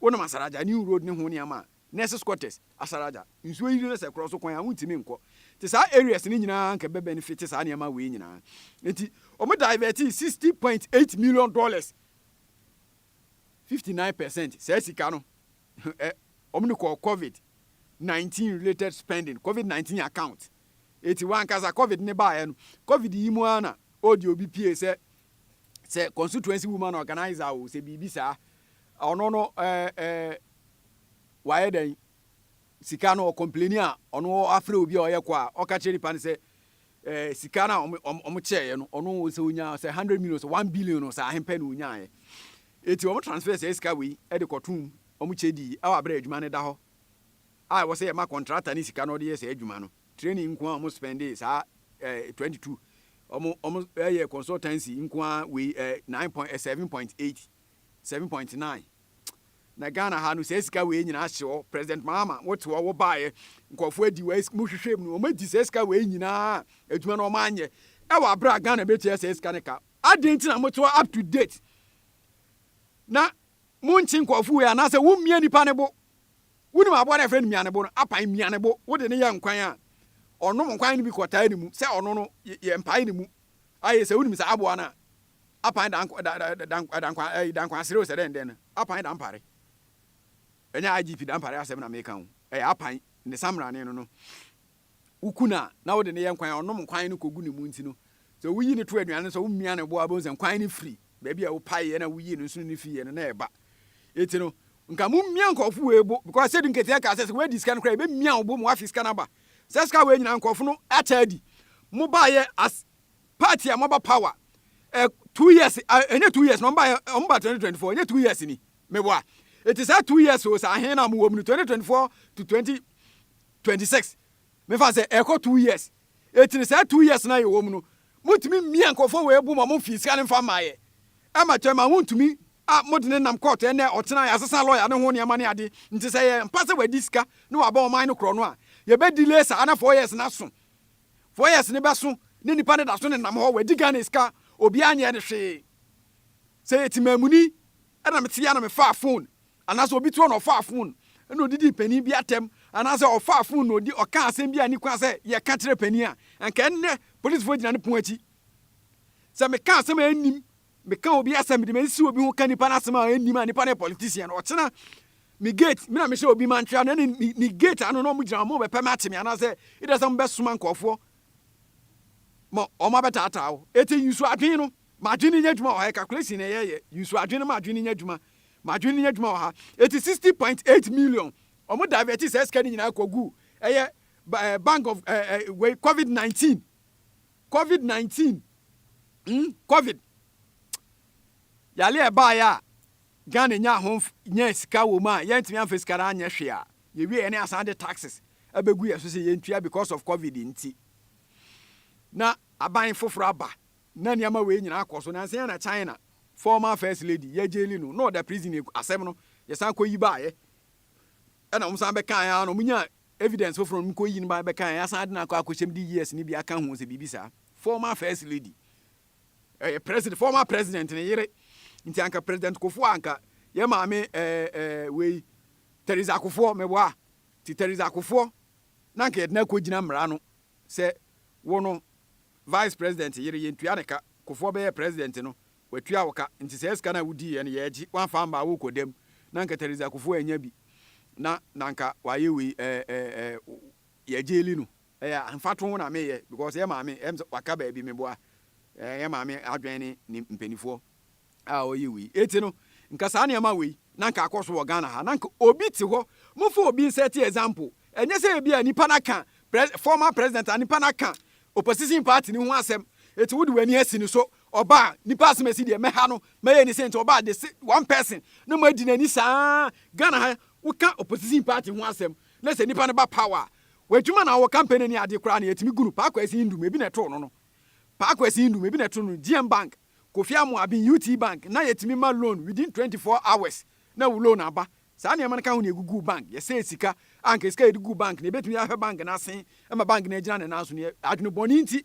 wonam asaraja new road ne ho nneɛma a nurses quarters asaraja nsuo yiri no sɛ korɔ so kwan a wontumi nkɔ nti saa areas no nyinaa anka ɛbɛ benefit saa nneɛma wei nyinaa nti wɔn divert 60.8 million dollars fifty nine percent saa sika no ɛ wɔn de kɔɔ covid nineteen related spending covid nineteen account eti wankasa covid ne baayɛ no covid yi mu ara na ɔdi obi pie sɛ sɛ constituency woman organizer o sɛ biribi saa ɔno no ɛɛ ɛɛ wayɛ dɛn. sika no ɔcomplaini a ɔno afrɛ obi a ɔyɛ kɔ a ɔka kyerɛ nipa no sɛ eh, sika no a ɔmo kyɛɛyɛ no ɔno sɛ onyaa sɛ hundred million sɛ one billion no sɛ ahempɛ na onyaayɛ eti ɔmo transfer sɛ sika wei ɛde kɔtom ɔmo kyɛ di ɛwɔ abere adwuma no da hɔ a ɛwɔ sɛ yɛma kɔntrata ne sika no ɔde yɛ saa adwuma no training nko a ɔmo spɛnde saa eh, twenty two ɔmo ɔmo ɛyɛ consultancy nko a wei eh, nine point eh, seven point eight seven point nine na Ghana ha no saa sika wei nyinaa hye hɔ President Mahama wote hɔ wo baeɛ nkurɔfoɔ adi wɔ mo hwehwɛ mu no wɔn adi saa sika wei nyinaa adwuma no wɔn anyɛ ɛwɔ abere a Ghana bɛtua saa sika no ka adɛn nti na mote hɔ up to date na monkye nkurɔfoɔ wei anaasɛ wommia nipa ne bo wonim aboa no a ɛfrɛ no mia ne bo no apan mia ne bo wode ne yɛ nkwan a ɔnom nkwan no bi kɔtaa ne mu sɛ ɔno no yɛ mpae ne mu ayɛ sɛ wonim saa aboa no a Apan da nk da da da da nkwa ɛyi da nkwa serew sɛ dɛn dɛn no apan da mpare ɛnyɛ IGP da mpare asɛm na meka o ɛyɛ apan ne samrane no no woku no a na wode no yɛ nkwan a ɔnom nkwan no kɔgu ne mu nti no sɛ woyi no to aduane no sɛ womia no boa bɛhu sɛ nkwan no firi baabi a wopaeɛ na woyii no nso no ne fiiɛ no na ɛba ɛti no nka momia nkɔfo wei bo because sɛdi nketeɛ ka sɛ sɛ woadi sika no koraa ɛbɛmia wo bo ma woafe sika no aba sɛ sika wei nyinaa nkɔfo no akyɛ adi mobaeɛ as party a moaba power eh, two years ah, ɛnyɛ two years na ɔmba ɔmba 2024 ɛnyɛ two years ni meboa ɛti saa two years o saa ahen na mowɔ mu no 2024 to 2026 mefa sɛ ɛkɔ two years ɛti no saa two years na yɛwɔ mu no motumi mmia nkɔfoɔ wɔ ɛbu ma momfii sika no mfa mmaeɛ ɛma kyɛ ma wontumi a mode ne nam kɔɔto ɛnɛ ɔtena yɛasesa lɔya ne ho nneɛma ne ade nti sɛ yɛ mpa sɛ wadi sika na waba ɔman no korɔ no a yɛbɛdile saa na four years no aso four years no bɛso ne nipa no daso nenam hɔ wadi Ghana sika obiara nyɛɛ no hwee sɛ yɛ timaamuni ɛna mete a na mefaa phone anaasɛ obi to a na ɔfaa phone ɛna odidii panin bi atɛm anaasɛ ɔfaa phone na odi ɔkaa asɛm bi a ni kwan sɛ yɛka kyerɛ panin a anka ɛnnɛ polisfoɔ gyina ne pon akyi sɛ meka asɛm a ɛnnim meka obi asɛm de mesi obi ho ka nipa no asɛm a ɛnnim a nipa no yɛ politician no ɔkyena me gate me na mehyɛ obi ma ntwea no ɛne ne gate ano na ɔmogyina ɔmo bɛpɛ me akye me anaasɛ ɛda sɛ mobɛsoma nkɔɔfoɔ ma ɔmo abɛtaataa wo ɛti yusu adwene no madwene nya adwuma wɔ ha calculation na ɛyɛyɛ yusu adwene no madwene nya adwuma madwene nya adwuma wɔ ha ɛti 60.8 million ɔmo divert sɛ sika no nyinaa kɔgu ɛyɛ bank of covid 19 Covid nineteen mm covid yale a ɛbaeɛ a Ghana nyaa ho nyaa sika wɔ mu a yɛntumi amfa sika no anyɛ hwee a yɛwie yɛne asan de taxes abɛgu yɛ so sɛ yɛntua because of covid nti na aban foforɔ aba na nneɛma wei nyinaa akɔ so nansa na China former first lady yɛgyeli no na ɔda prison asɛm no yɛsan kɔyi baeɛ ɛna wɔn san bɛkaeɛ a na wɔnya Evidence foforɔ no, mekɔ yi no ba bɛka ɛ, asan de no akɔ akɔhyɛm de years no bi aka ho sɛ biribi saa. Former first lady, ɛyɛ president, former president ne yere, nti anka president Kufuor a anka yɛ maame ɛɛ ɛɛ wei Theresa Kufuor, meboa a, nti Theresa Kufuor na anka yɛde no akɔgyina mmara ano sɛ wo no vice president yere yɛntua ne ka, Kufuor bɛyɛɛ president no Watua wo ka, nti saa sika no a wodiiɛ no yɛɛgye, woamfa ammaa wo kɔ dam, na anka Theresa Akuffo annya bi, na na anka wayɛ wei eh eh eh yɛgyeli no. Ɛyɛ a mfatoho na meyɛ because yɛ maame ɛyɛ me sɛ waka baabi meboa eh yɛ maame adwene ne ne mpaninfoɔ a ɔyɛ wei eti no nka saa nneɛma wei na anka akɔ so wɔ Ghana ha na anka obi te hɔ momfa obi nsɛte example ɛnyɛ sɛ ebi a nipa no aka pres former president a nipa no aka opposition party no ho asɛm eti wode w'ani asi ne so Ɔba a nipa asem asi deɛ mɛha no mɛyɛ ni sɛ nti ɔba a de se one person na mo adi nani saa Ghana ha wo ka opposition party ho asem na sɛ nipa no ba power a wadwuma na ɔwɔ campaign ne ade koraa no yɛtumi gu no Paa Kwasi Ndum ebi na ɛtoo no no Paa Kwasi Ndum ebi na ɛtoo no GM Bank Kofi Amoah Abin UTE Bank na yɛtumi ma loan within twenty four hours na wo loan aba saa nneɛma no ka ho na yɛguguu bank yɛsɛɛ sika a anka sika a yɛde guu bank no yɛbɛtumi ahwɛ bank no asen ma bank no agyina ne nan so no yɛ adwene bɔne nti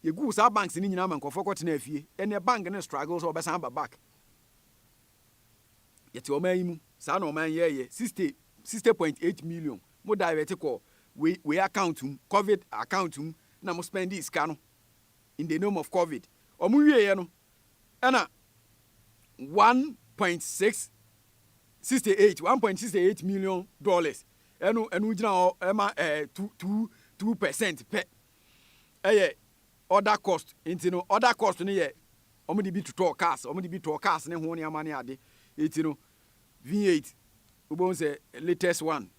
Yɛguu saa banks no nyinaa ma nkurɔfoɔ kɔtenaa fie. Ɛnneɛ bank no struggle sɛ ɔbɛsan aba back. Yɛte ɔman yi mu. Saa na ɔman yɛɛyɛ. Sixty, sixty point eight million mo divert kɔɔ wei, wei account mu, covid account mu, na mo spendee sika no in the name of covid. Wɔn wieeɛ no, ɛna one point six, sixty eight, one point sixty eight million dollars ɛno, ɛno gyina hɔ ɛma ɛɛ two, two, two percent pɛ. yɛ order cost nti no order cost no yɛ wɔn de bi totɔɔ cars wɔn de bi tɔɔ cars ne ho nneɛma ne ade nti no V8 wobɛhu sɛ latest one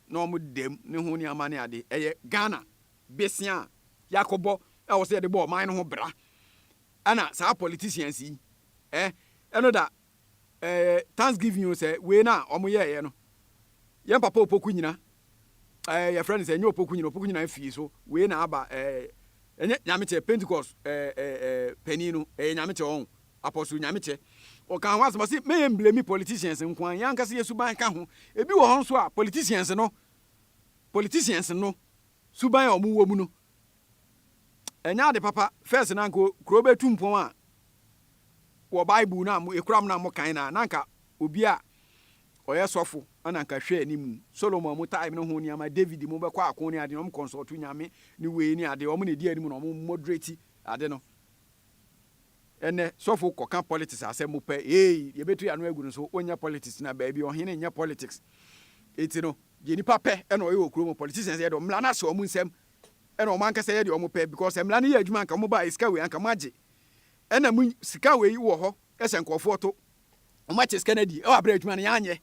na wɔn dɛm ne ho nneɛma ne ade ɛyɛ Ghana besia a yɛakɔbɔ a wɔsɛ yɛde bɔ ɔman no ho bra ɛna saa politicians yi eh ɛno da ɛɛ thanksgiving o sɛ wei na wɔn yɛɛyɛ no yɛn papa opoku nyina ɛɛ yɛfrɛ no sɛ ɛnyɛ opoku nyina opoku nyina fie so wei na aba ɛɛ ɛnyɛ nyamekyɛ pentecost ɛɛ ɛɛ panin no ɛyɛ nyamekyɛ wɔn apɔso nyamekyɛ ɔka ho asɛm ɔsi mɛyɛ mblemi politicians nko an yɛn ankasa yɛ suban ka ho ebi wɔ hɔ nso a politicians no politicians no suban a wɔn wɔ mu no Ɛnyɛ ade papa first na anka kuro bɛ tu mpɔn a wɔ bible no a mo ekura mo na mo kan na na anka obi a ɔyɛ sɔfo ɛna anka hwɛ ne mu Solomon mo time no ho nneɛma David mo bɛkɔ ako ne ade na ɔmo consult nyame ne wei ne ade ɔmo na edi anim na ɔmo moderate ade no ɛnɛ sɔfo kɔka politics asɛm mo pɛ ee yɛbɛtu yɛ ano agu no so onyɛ politics na baabi ɔhene nyɛ politics eti no deɛ nipa pɛ ɛna ɔyɛ wɔ kuro mu politicians yɛ dɔ mmla no ase ɔmo nsɛm ɛna wɔn ankasa yɛ deɛ wɔn pɛ because mmara no yɛ adwuma anka wɔn ba sika wei anka wɔn agye ɛna mo sika wei wɔ hɔ ɛsɛ nkorɔfoɔ to wɔn akyɛ sika no adi ɛwɔ abira adwuma no yɛn anyɛ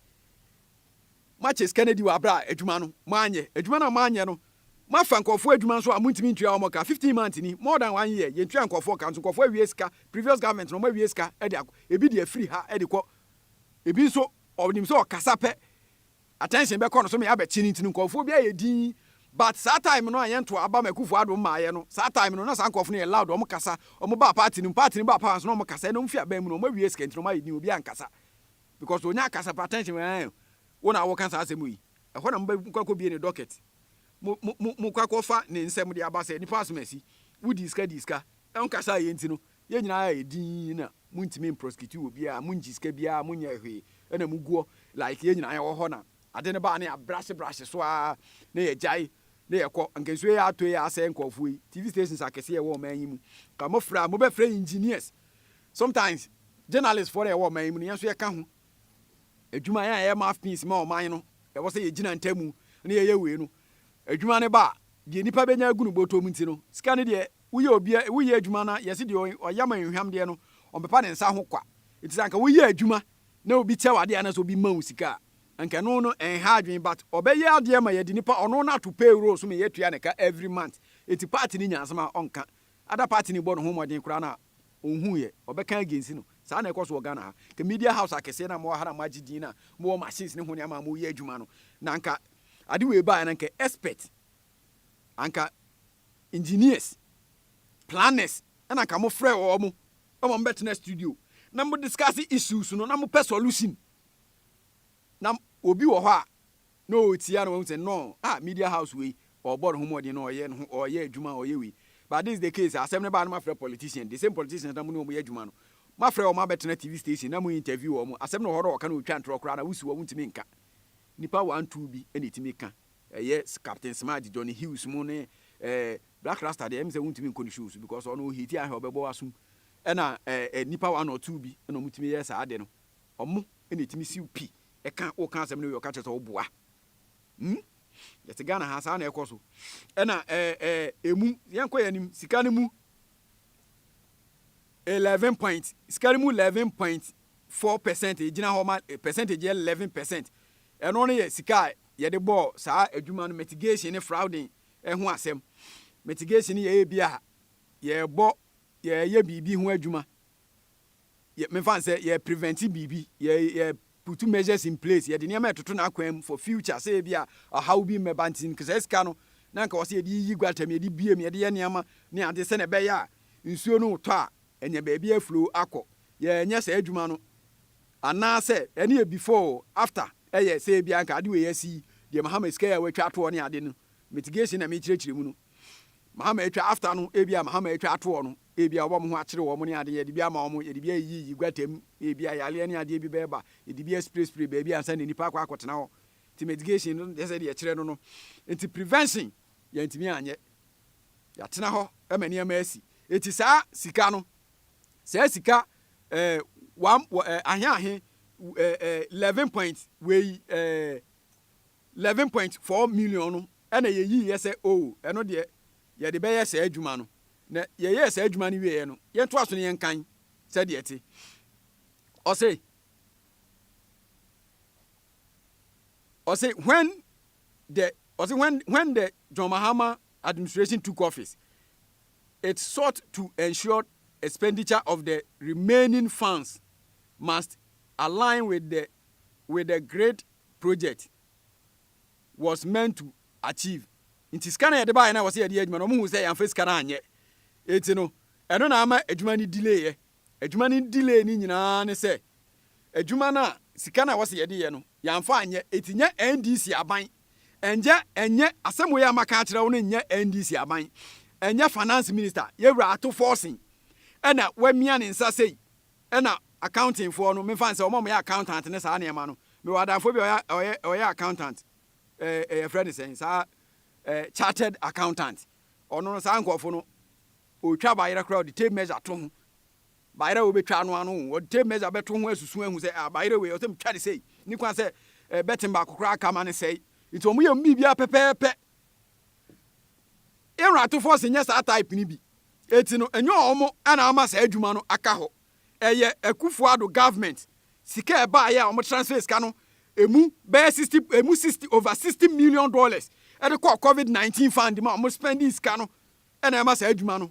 mo akyɛ sika no adi wɔ abira adwuma no mo anyɛ adwuma no a mo anyɛ no mo afa nkorɔfoɔ adwuma nso a mo ntumi ntua wɔn ka fifteen months ni more than one year yɛn tua nkorɔfoɔ ka nso nkorɔfoɔ awie sika previous government no wɔn awie sika ɛde akɔ ebi deɛ firi ha ɛde kɔ ebi nso ɔnim sɛ ɔkasa pɛ. Attention bɛkɔ no so me abɛkye no nti no nkurɔfoɔ bi ayɛ dinn but saa time no a yɛn to aba ma Akuffo Addo mmaeɛ no saa time no na saa nkurɔfoɔ no yɛ loud wɔn kasa wɔn baa party no mu party no baa power nso na wɔn kasa ɛna wɔn fi aban mu no wɔn awie sika nti na wɔn ayɛ dinn obiara nkasa because ɔnya akasa pa attention ɛɛn wo na woka saa asɛm yi ɛhɔ na mobɛ mokɔ akɔ bie ne docket mo mo mo mokɔ akɔ fa ne nsɛm de aba sɛ nipa asɛm asi wodii sika dii sika ɛnkasa yɛ nti no Yɛn nyinaa yɛ dinn na montumi mprosecute obiara, mongye sika biara, monyɛ hwee na mogu hɔ like yɛn nyinaa yɛwɔ hɔ na ade no baa na yɛabrahye brahye so ara na yɛgyae na yɛkɔ. Anka nsuo yi atɔ yi asɛe nkurɔfoɔ yi, TV stations akɛseɛ a ɛwɔ ɔman yi mu, anka mofrɛ a mobɛfrɛ engineers, sometimes journalists foɔ no a yɛwɔ ɔman yi mu no yɛn nso yɛka ho. Adwuma, yɛn a yɛyɛ mouthpiece ma ɔman no, ɛwɔ sɛ yɛgyina ntamu na yɛyɛ wei no, adwuma no ba a, deɛ nnipa bɛnya agu no bɔtɔ mu nti no, sika no deɛ Woyɛ obi a woyɛ edwuma na yɛse deɛ ɔya ma nhwam deɛ no ɔmpepa ne nsa ho kwa. Ntsi sɛ anka woyɛ edwuma na obi kyɛ wo adeɛ anaa sɛ obi ma wo sika a, anka ɛno no ɛnha adwen but ɔbɛyɛ adeɛ ma yɛde nipa ɔno no ato payroll so ma yɛatua ne ka every month. Ntsi party no nya asem a ɔnka. Ada party no bɔ ne ho mmɔden koraa na ɔnhu yɛ ɔbɛka against no. Saa na ɛkɔ so wɔ Ghana ha. Nka media house akɛseɛ no a mowɔ ha na moagye din na mowɔ machines ne ho nneɛma a moyɛ adwuma no na anka ade wei baeɛ no anka expert, anka engineers, planners na anka mo frɛ wɔn mo ma mo bɛtena studio na mo discuss issues no na mo pɛ solution. Na obi wɔ hɔ a na ɔretia na wahu sɛ no ah media house wei ɔrebɔ ne ho mmɔden na ɔyɛ ne ho ɔyɛ adwuma ɔyɛ wei but this is the case asɛm no baa no mafrɛ politician the same politicians na mo ne wɔn yɛ adwuma no mafrɛ wɔn abɛtena TV station na mo interview wɔn asɛm no wɔ hɔ na ɔka na ɔtwa ntorɔ koraa na wosi wɔn ntumi nka nipa one two bi na ɛtumi ka Ɛyɛ Captain Smart, Johnny Hughes mo ne eh, Blaq Rasta deɛ ɛm sɛ wontumi nkɔ ne show so because ɔno ohiti ahɛ ɔbɛbɔ w'asom. Ɛna eh, eh, nipa one or two bi ɛna ɔmo tumi yɛ saa ade no. Ɔmo ɛna ɛtumi siw pi ɛka woka asɛm no wie ɔka kyerɛ sɛ ɔboa. Hmm? Yɛte Ghana ha saa na ɛkɔ so. Ɛna eh, eh, emu yɛnkɔ yɛn anim sika no mu eleven point sika no mu eleven point four percent ɛgyina hɔ ma eh, percentage yɛ eleven percent ɛno no yɛ sika a yɛde bɔɔ saa adwuma no mitigation ne frauding ho asɛm. Mitigation yɛ ebi a yɛrebɔ, yɛreyɛ biribi ho adwuma, yɛ, memfa no sɛ yɛ prevent biribi, yɛ, yɛ put measures in place, yɛde nneɛma ɛtoto n'akwan mu for future sɛ ebi a ɔhaw bi mmɛba nti, nka saa sika no na nka wɔsɛ yɛde yiyi gutter mu, yɛde bie mu, yɛde yɛ nneɛma ne ade sɛnea ɛbɛyɛ a nsuo no retɔ a, anya baabi aflow akɔ. Yɛnyɛ saa adwuma no. Anaasɛ ɛno yɛ before oo, after ɛyɛ sɛ ebia anka ade wei asi, deɛ Mahama sika yi a watwa atoɔ ne ade no, mitigation na mekyerɛkyerɛ mu no, Mahama atwa, after no ebia Mahama atwa atoɔ no, ebia wɔbɛma wɔn ho akyere wɔn ne ade, yɛde bi ama wɔn, yɛde bi ayiyiyi gutter mu, ebia yareɛ ne adeɛ bi bɛba, yɛde bi asprayspray baabi ansa na nnipa akɔ akɔtena hɔ. Nti mitigation no nyɛ sɛ deɛ ɛkyerɛ no no. Nti prevention yɛantumi anyɛ. Yɛatena hɔ ma nneɛma asi. Nti saa sika no, saa sika eh, wam, wɔ, eh, ahe ahe eh, eh, 11 point wei eh, 11 point 4 million no ɛna yɛyii yɛ sɛ o oh, ɛno deɛ yɛde bɛyɛ saa adwuma no na yɛyɛɛ saa adwuma no wieɛ no yɛntoa so no yɛnkan sɛdeɛ ɛte ɔse ɔse when the ɔse when when the John Mahama administration took office It sought to ensure expenditure of the remaining funds must align with the with the grid project was meant to achieve. Nti sika no a yɛde baeɛ no a wɔsɛ yɛde yɛ adwuma no, wɔn hu sɛ yɛamfa sika no anyɛ. Eti no, ɛno na ama adwuma no delay yɛ. Adwuma no delay no nyinaa ne sɛ, adwuma no a sika no a wɔsɛ yɛde yɛ no, Yɛamfa anyɛ, eti nyɛ NDC aban. Ɛnjɛ, ɛnyɛ, asɛm wei a maka akyerɛ wo no nyɛ NDC aban. Ɛnyɛ Finance Minister, Yewura Ato Forson, ɛna wamia ne nsa sei, ɛna Accounting foɔ no, memfa nsɛ, wɔn a wɔyɛ Accountant ne saa nneɛma no, mewɔ adamfoɔ bi a ɔyɛ, ɔyɛ, ɔyɛ Accountant, ɛɛ, ɛɛ yɛfrɛ no sɛn, saa, ɛɛ, Chartered Accountant. Ɔno no, saa nkorɔfo no, ɔretwa bayerɛ koraa, ɔde tape measure to ho. Bayerɛ a wɔbɛtwa ano ano o, wɔde Meza bɛto ho asusu ahu sɛ ah Bayerɛ wei ɔsɛ metwa no sei, nni kwan sɛ bɛten baako koraa ka ma no sɛe. Nti wɔyɛ wɔn biribiara pɛpɛɛpɛ. Ewratofoɔ se nyɛ saa type no bi. Enti no ɛnyɛ wɔn na ama saa adwuma no aka hɔ. Ɛyɛ Akufo Addo government sika a ɛbaeɛ a wɔn transfer sika no ɛmu bɛyɛ 60 ɛmu 60 over 60 million dollars ɛde kɔɔ covid 19 fund mu a wɔn spending sika no ɛna ɛma saa adwuma no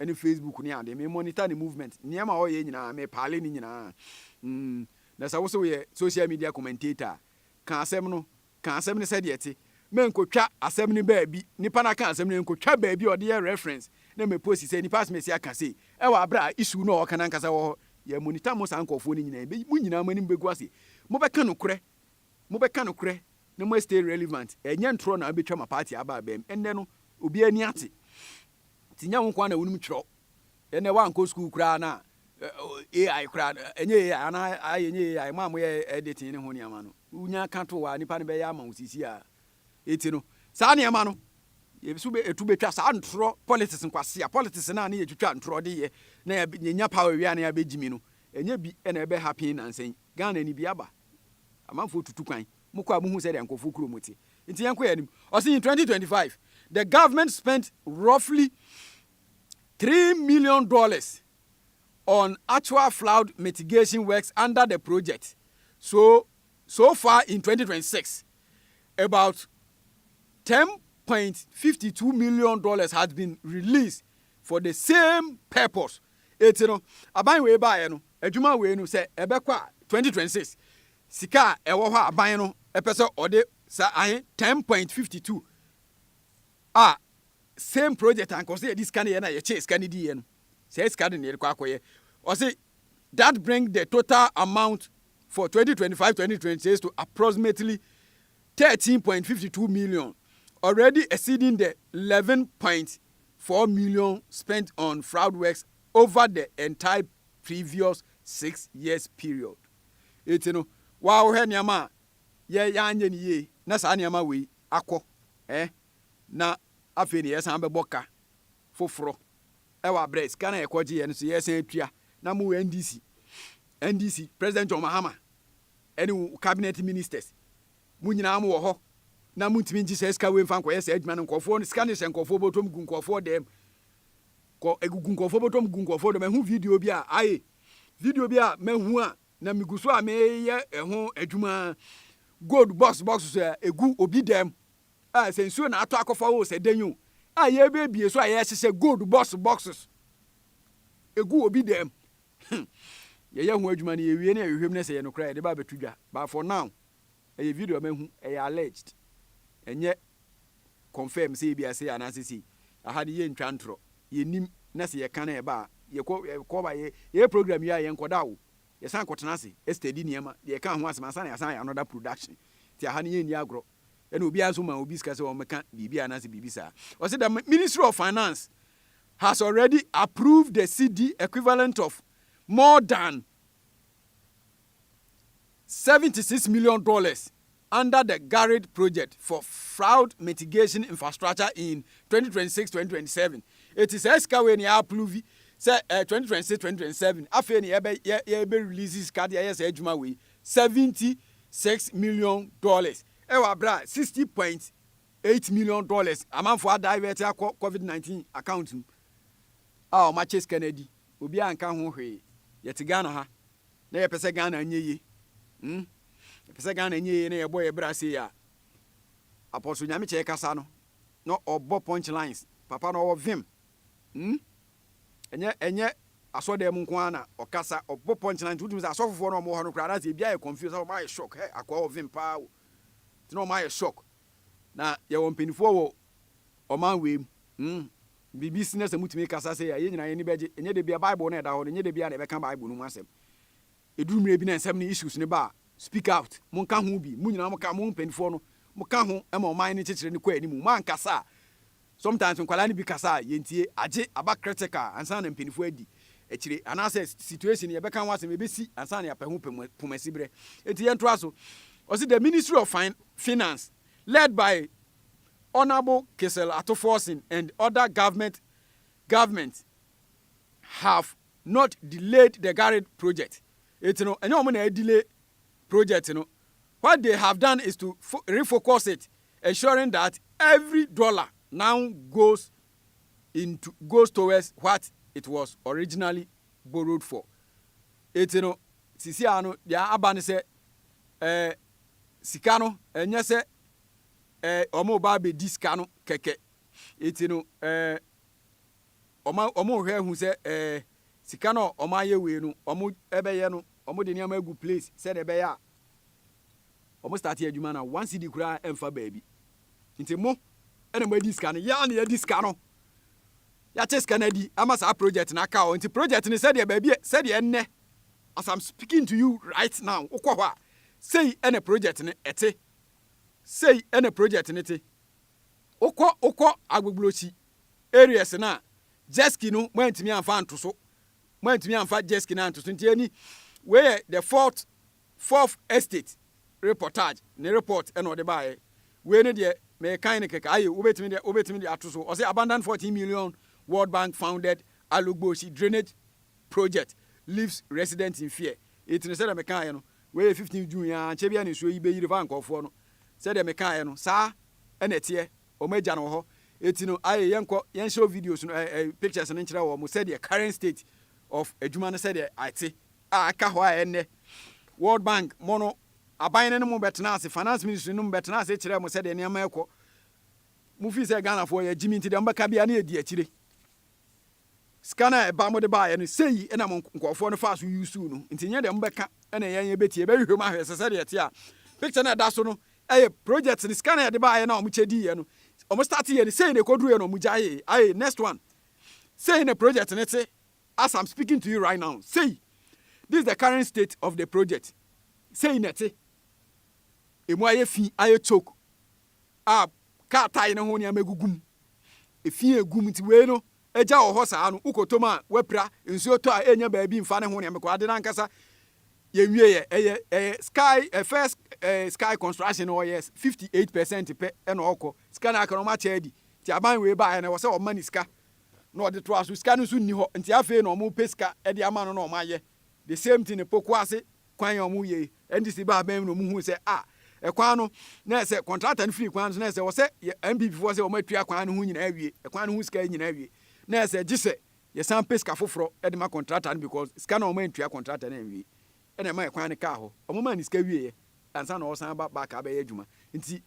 ɛne Facebook ne ade, me monitor ne movement, nneɛma a ɔyɛ nyinaa, me paale ne nyinaa, mm, na sɛ wo sɛ woyɛ social media commentator a, ka asɛm no, ka asɛm no sɛdeɛ ɛte, mɛnkɔtwa asɛm no baabi, nipa no aka asɛm no, ɛnkɔtwa baabi a ɔde yɛ reference, na me post sɛ nipa asmɛsi aka sei, ɛwɔ aberɛ a issue no a ɔka no ankasa wɔ hɔ, yɛ monitor mo saa nkorɔfoɔ no nyinaa, ɛbɛ, mo nyinaa mo anim bɛgu ase, mobɛka nokorɛ, mobɛka nokorɛ, na mo a stay relevant, ɛnyɛ ntorɔ na abɛtwa ma party aba abam, ɛnnɛ no, obiara ani ate, Nti nyɛ wo nko ara na wonim twerɛ. Ɛnɛ woankɔ sukuu koraa na AI koraa no, ɛnyɛ AI anaa ayɛ nyɛ AI, mo a moyɛ editing ne ho nneɛma no, wonya ka to a nipa no bɛyɛ ama wo seesei a. Enti no, saa nneɛma no, yɛso bɛ, ɛtu bɛtwa saa ntorɔ politics nkwasea, politics no a ne yɛtwitwa ntorɔ de yɛ na yɛ, yɛnya power wie a na yɛabɛgyimi no, ɛnyɛ bi na ɛbɛ happen nnansa yi. Ghana ni bi aba. Amanfoɔ tutu kwan. Mo kɔ a mo hu sɛdeɛ nkorɔfoɔ kurom te. Nti yɛn kɔ yɛn anim. Ɔse in twenty twenty five, the government spent roughly three million dollars on actual floud mitigation works under the project. So, so far in twenty twenty six, about ten point fifty two million dollars has been released for the same purpose. Eti no, aban wei baeɛ no, adwuma wei no sɛ ɛbɛkɔ a twenty twenty six, Sika a ɛwɔ hɔ a aban no pɛ sɛ ɔde sa ahe ten point fifty two a same project anka ɔsɛ yɛde sika no yɛ na yɛkyɛ sika no diiɛ no saa sika no na yɛde kɔ akɔyɛ ɔse that bring the total amount for twenty twenty five twenty twenty six to approximately thirteen point fifty two million already exceeding the eleven point four million spent on fraud works over the entire previous six years period. Enti no, wo a wohwɛ nneɛma a yɛ yɛanyɛ no yie na saa nneɛma wei akɔ ɛ na afei na yɛsan bɛbɔ ka foforɔ ɛwɔ abrɛ sika na yɛkɔgye yɛ no so yɛsan atua na mo NDC NDC President John Mahama ɛne wo cabinet ministers mo nyinaa mo wɔ hɔ na montumi ngye saa sika wei mfa nkɔyɛ saa adwuma no nkurɔfoɔ no sika no hyɛ nkurɔfoɔ bɔtɔm gu nkurɔfoɔ dɛm kɔ ɛgugu nkurɔfoɔ bɔtɔm gu nkurɔfoɔ dɛm ɛho video bi a ayɛ video bi a mahu a na megu so a meyɛ ɛho adwuma gold box box so a egu obi dɛm a sɛ nsuo na atɔ akɔfa wo sɛ dɛn o a yɛbɛbie so a yɛhyehyɛ gold box boxes egu obi dɛm hmm. yɛyɛ ho adwuma no yɛwie no yɛhwehwɛm no sɛ yɛ nokora yɛde ba abɛto dwa but for now Ɛyɛ video a mahu, ɛyɛ alleged, ɛnyɛ confirmed sɛ ebia sei anaasɛ sei. Aha de yɛntwa ntorɔ, yɛnnim, na sɛ yɛka na ɛba a, yɛkɔ, yɛkɔ ba, yɛ, yɛyɛ program wie a, yɛnkɔda o, yɛsan kɔtena ase study nneɛma, deɛ ɛka ho asɛm ansa na yɛasan ayɛ another production. Nti aha no yɛnni agorɔ. Ɛna obiara nso maa obi sika sɛ ɔmmɛka biribi anaasɛ biribi saa. Ɔse the Ministry of Finance has already approved the cedi equivalent of more than Seventy six million dollars under the GARID project for fraud mitigation infrastructure in twenty twenty six twenty twenty seven. Eti saa sika wei ni approve sɛ eh, twenty twenty six twenty twenty seven afei ni yɛbɛ yɛ yɛbɛ release sika de ayɛ saa adwuma wei seventy six million dollars ɛwɔ abira sixty point eight million dollars amanfo adivert akɔ covid nineteen account mu a wɔn akyɛ sika no adi. Obiaa nka ho hwee. Yɛte Ghana ha na yɛpɛ sɛ Ghana nyɛ yie hmm yɛpɛ sɛ Ghana nyɛ yie na yɛbɔ yɛn bra sei a Apostle Nyamekyɛe kasa no na ɔbɔ punch lines papa na ɔwɔ vim hmm ɛnyɛ ɛnyɛ asɔdan mu nko ara na ɔkasa ɔbɔ punch lines wotumi sɛ asɔfofoɔ na ɔmo wɔ hɔ no koraa na sɛ ebi ayɛ confuse na ɔmo ayɛ shock hɛ akoa wɔ vim paa o nti na ɔmo ayɛ shock Na yɛwɔ mpaninfoɔ wɔ ɔman wei mu. Hmm. Biribi si na sɛ motumi kasa sei a, yɛn nyinaa yɛn ani bɛgye. Ɛnyɛ da biara Bible no a ɛda hɔ no, ɛnyɛ da biara na yɛbɛka Bible no mu asɛm. Ɛduru mmerɛ bi na nsɛm no, issues no ba a, speak out. Monka ho bi. Mo nyinaa moka, mo mpaninfoɔ no, moka ho ma ɔman no nkyekyere no kɔ anim. Moankasa a, Sometimes nkwadaa no bi kasa a yɛntie, agye aba critical ansa na mpaninfoɔ adi akyire anaasɛ situation yɛbɛka ho asɛm ɛbɛsi ansa na yɛapɛ ho pomasiberɛ nti yɛntoa so Ɔse the ministry of finance led by Honourable Kissel Ato Forson and other government government have not delayed the Garage project Eti no ɛnyɛ wɔn na ɛdelay project no what they have done is to refocus it ensuring that every dollar now goes into goes towards what it was originally borrowed for. Eti no, sisi a no, deɛ aba ne sɛ, eh, sika no, ɛnyɛ sɛ, eh, wɔn reba abɛdi sika no kɛkɛ. Eti no, eh, wɔn wɔn hwɛ hu sɛ, eh, sika no a wɔayɛ wei no, wɔn ɛbɛyɛ no, wɔn de nneɛma agu place sɛdeɛ ɛbɛyɛ a, Ɔmo starte adwuma na one cedi koraa ɛnfa baabi nti mo ɛna mo adi sika no yɛa na yɛdi sika no yɛakye sika no adi ama saa project no aka hɔ nti project no sɛdeɛ baabi sɛdeɛ ɛnnɛ as am speaking to you right now wokɔ hɔ a sei ɛna project no ɛte sei ɛna project no te wokɔ wokɔ agbogblosi areas no a jetski no mo antumi anfa anto so mo antumi anfa jetski no anto so nti ɛni wei yɛ the fourth Fourth Estate reportage ne report na ɔde baeɛ. Wei ne deɛ merekan no kɛkɛ, aye, wobɛtumi de, wobɛtumi de ato so. Ɔse abandoned 14 million World Bank founded Alugboshi drainage project leaves residents in fear. Etene sɛdeɛ mekaaeɛ no, wei yɛ 15 June yi ara, nkyɛ biara na nsuo yi bɛyiri faa nkurɔfoɔ no. Sɛdeɛ mekaaeɛ no, saa na ɛteɛ, wɔn agya no wɔ hɔ. Eti no, aye, yɛnkɔ, yɛnhyɛw videos no, ɛɛ, ɛɛ, pictures no nkyerɛ wɔn sɛdeɛ current state of adwuma no sɛdeɛ ɛte. a aka hɔ a ɛnnɛ World Bank mɔ no, aban no no mo bɛtenaa ase, Finance Ministry no mo bɛtenaa ase kyerɛɛ mo sɛdeɛ nneɛma rekɔ. Mofii sɛ Ghanafoɔ yɛ gyimi nti deɛ mobɛka biara no yɛdi akyire. Sika no a ɛba mode baeɛ no, sei na mo nkurɔfoɔ no faa so usuu no nti nyɛ deɛ mobɛka na yɛn yɛbɛtie. Yɛbɛhwehwɛ mu ahwɛ sɛ sɛdeɛ ɛte a picture no a ɛda so no yɛ project no, sika no a yɛde baeɛ no a wɔkyɛ diiɛ no, wɔstarteeɛ no, sei na ɛkɔduruiɛ na wɔgyaee, aye, next one, sei na project no te. As I'm speaking to you right now, sei, this is the current state of the project, sei na ɛte. Emu ayɛ fi, ayɛ choke, a kaa tae no ho nneɛma agugu mu. Efi a egu mu nti wei no, agya wɔ hɔ saa no, wokɔtɔ mu a, wapira, nsuo tɔ a, ɛnya baabi mfa ne ho nneɛma kɔ. Ade no ankasa, yɛnwieɛ, ɛyɛ, ɛyɛ sky, eh, first eh, sky construction no ɔyɛ 58 percent pɛ ɛna ɔkɔ. Sika no aka no, ɔmakyɛ adi. Nti aban wei baeɛ no, ɛwɔ sɛ ɔma ne sika na ɔde toaa so, sika no nso nni hɔ, nti afei na ɔmo pɛ sika de ama no na ɔmo ayɛ the same thing poku ase kwan a ɔmo yɛi, NDC baa bɛn mu na ɔmo hui sɛ ah ɛkwan no na ɛsɛ contractor no firi kwan no so na ɛsɛ ɔsɛ yɛ NPP foɔ sɛ ɔmo atua kwan no ho nyinaa awie, ɛkwan no ho sika nyinaa awie na ɛsɛ gyesɛ yɛsan pɛ sika foforɔ de ma contractor no because sika no a ɔmo antua contractor no anwie na ɛma ɛkwan no kaa hɔ, ɔmo maa no sika wieɛ ansa na ɔresan aba back abɛyɛ adwuma nti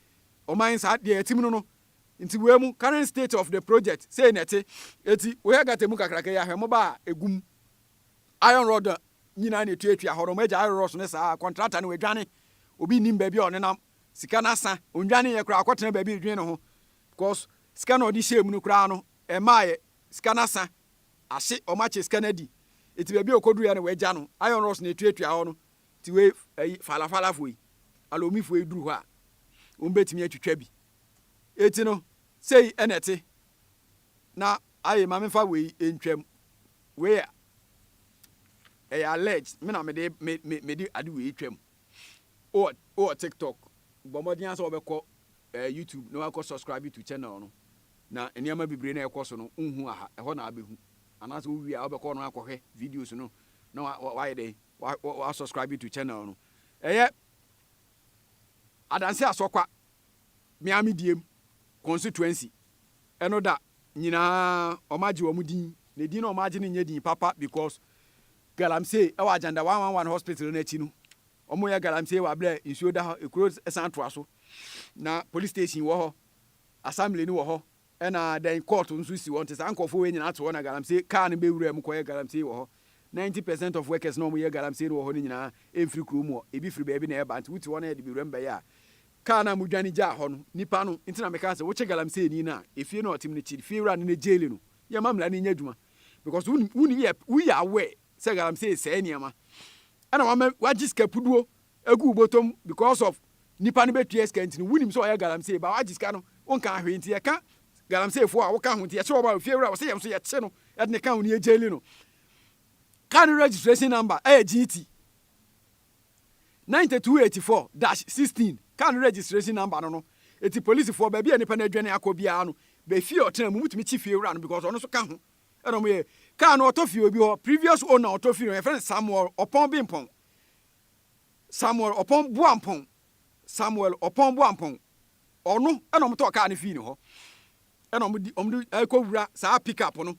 ɔman saa deɛ yɛte mu no no. Nti wei mu current state of the project sei na ɛte. Eti wohwɛ gutter mu kakraka yi a, hwɛ mmoba a egu mu. Iron rod nyinaa na etuatua hɔ no, wɔn agya iron rods no saa a, contractor no wadwane. Obi nnim baabi a ɔnenam. Sika no asa. Ɔndwaneeɛ koraa, ɔkɔtena baabi redwene ne ho because sika na ɔde hyɛɛ mu no koraa no, ɛmmaeɛ. Sika no asa. Ahye, wɔakyɛ sika no adi. Eti baabi a ɔkɔduruiɛ no wɔagya no. Iron rods na etuatua hɔ no. Nti wei, ayi, Fala Falafoɔ yi, Alommifoɔ yi duru hɔ a, wɔbɛtumi atwitwa bi. Enti no, sei na ɛte. Na aye, ma memfa wei ntwam. Wei yɛ, ɛyɛ alleged, me na mede, me, me, mede ade wei twam. Wowɔ, wowɔ TikTok, bɔ mmɔden ara sɛ wɔbɛkɔ eh, YouTube na wɔakɔ subscribe to channel no. Na nneɛma bebree na ɛkɔ so no, wonhu aha, ɛhɔ na abɛhu. Anaasɛ wowie a, wobɛkɔ no akɔhwɛ videos no na wa, wa, wayɛ dɛn, wa, wa, wa subscribe to channel no. Ɛyɛ Adanse Asokwa Miami Diem Constituency no da nyinaa wɔagye wɔn din, na edin no a wɔagye no nyɛ din papa because Galamsey wɔ Ajanda 111 Hospital no akyi no, wɔyɛ Galamsey wɔ abere a nsuo da hɔ, ekuro san toa so, na police station wɔ hɔ, assembly no wɔ hɔ, Ɛna dɛn court nso si hɔ nti saa nkurɔfoɔ wei nyinaa to hɔ na galamsey car no bɛwura mu kɔyɛ galamsey wɔ hɔ. Ninety percent of workers na wɔyɛ galamsey no wɔ hɔ no nyinaa ɛmfiri kurom hɔ, ɛbi firi baabi na ɛba nti wote hɔ na yɛde bɛwura mu bɛyɛ a car no a modwane gyaa hɔ no nipa no nti na mekaa sɛ wokye galamseyni no a ɛfie no a ɔtem no kyi fiewura no na jail no yɛma mmara no nyɛ adwuma because wonim wonim yɛ woyɛ aware sɛ galamsey sɛe nneɛma ɛna wama wagye sika puduo Egu wo bɔtɔm because of nipa no bɛtua sika nti no wonim sɛ ɔyɛ galamsey but wagye sika no wonkaa hwee nti yɛka galamsey foɔ a woka ho nti yɛkye wɔn a ofiewura wɔsɛ yɛn nso yɛkye no yɛde ne ka ho ne yɛ jaili no car no registration number ɛyɛ GT 9284 dash 16 car no registration number no no eti polisifoɔ baabi a nipa no adwane akɔ biara no bɛ fie ɔtena mu mutumi kye fiewura no because ɔno nso ka ho ɛna wɔn yɛ car no ɔtɔ fie obi hɔ previous owner ɔtɔ fie no yɛfrɛ no Samuel Ɔpɔn Bimpɔn Samuel Ɔpɔn Boampɔn Samuel Ɔpɔn Boampɔn, ɔno na wɔtɔɔ kaa no fii ne hɔ, ɛna wɔde wɔde ɛrekɔwura saa pick up no,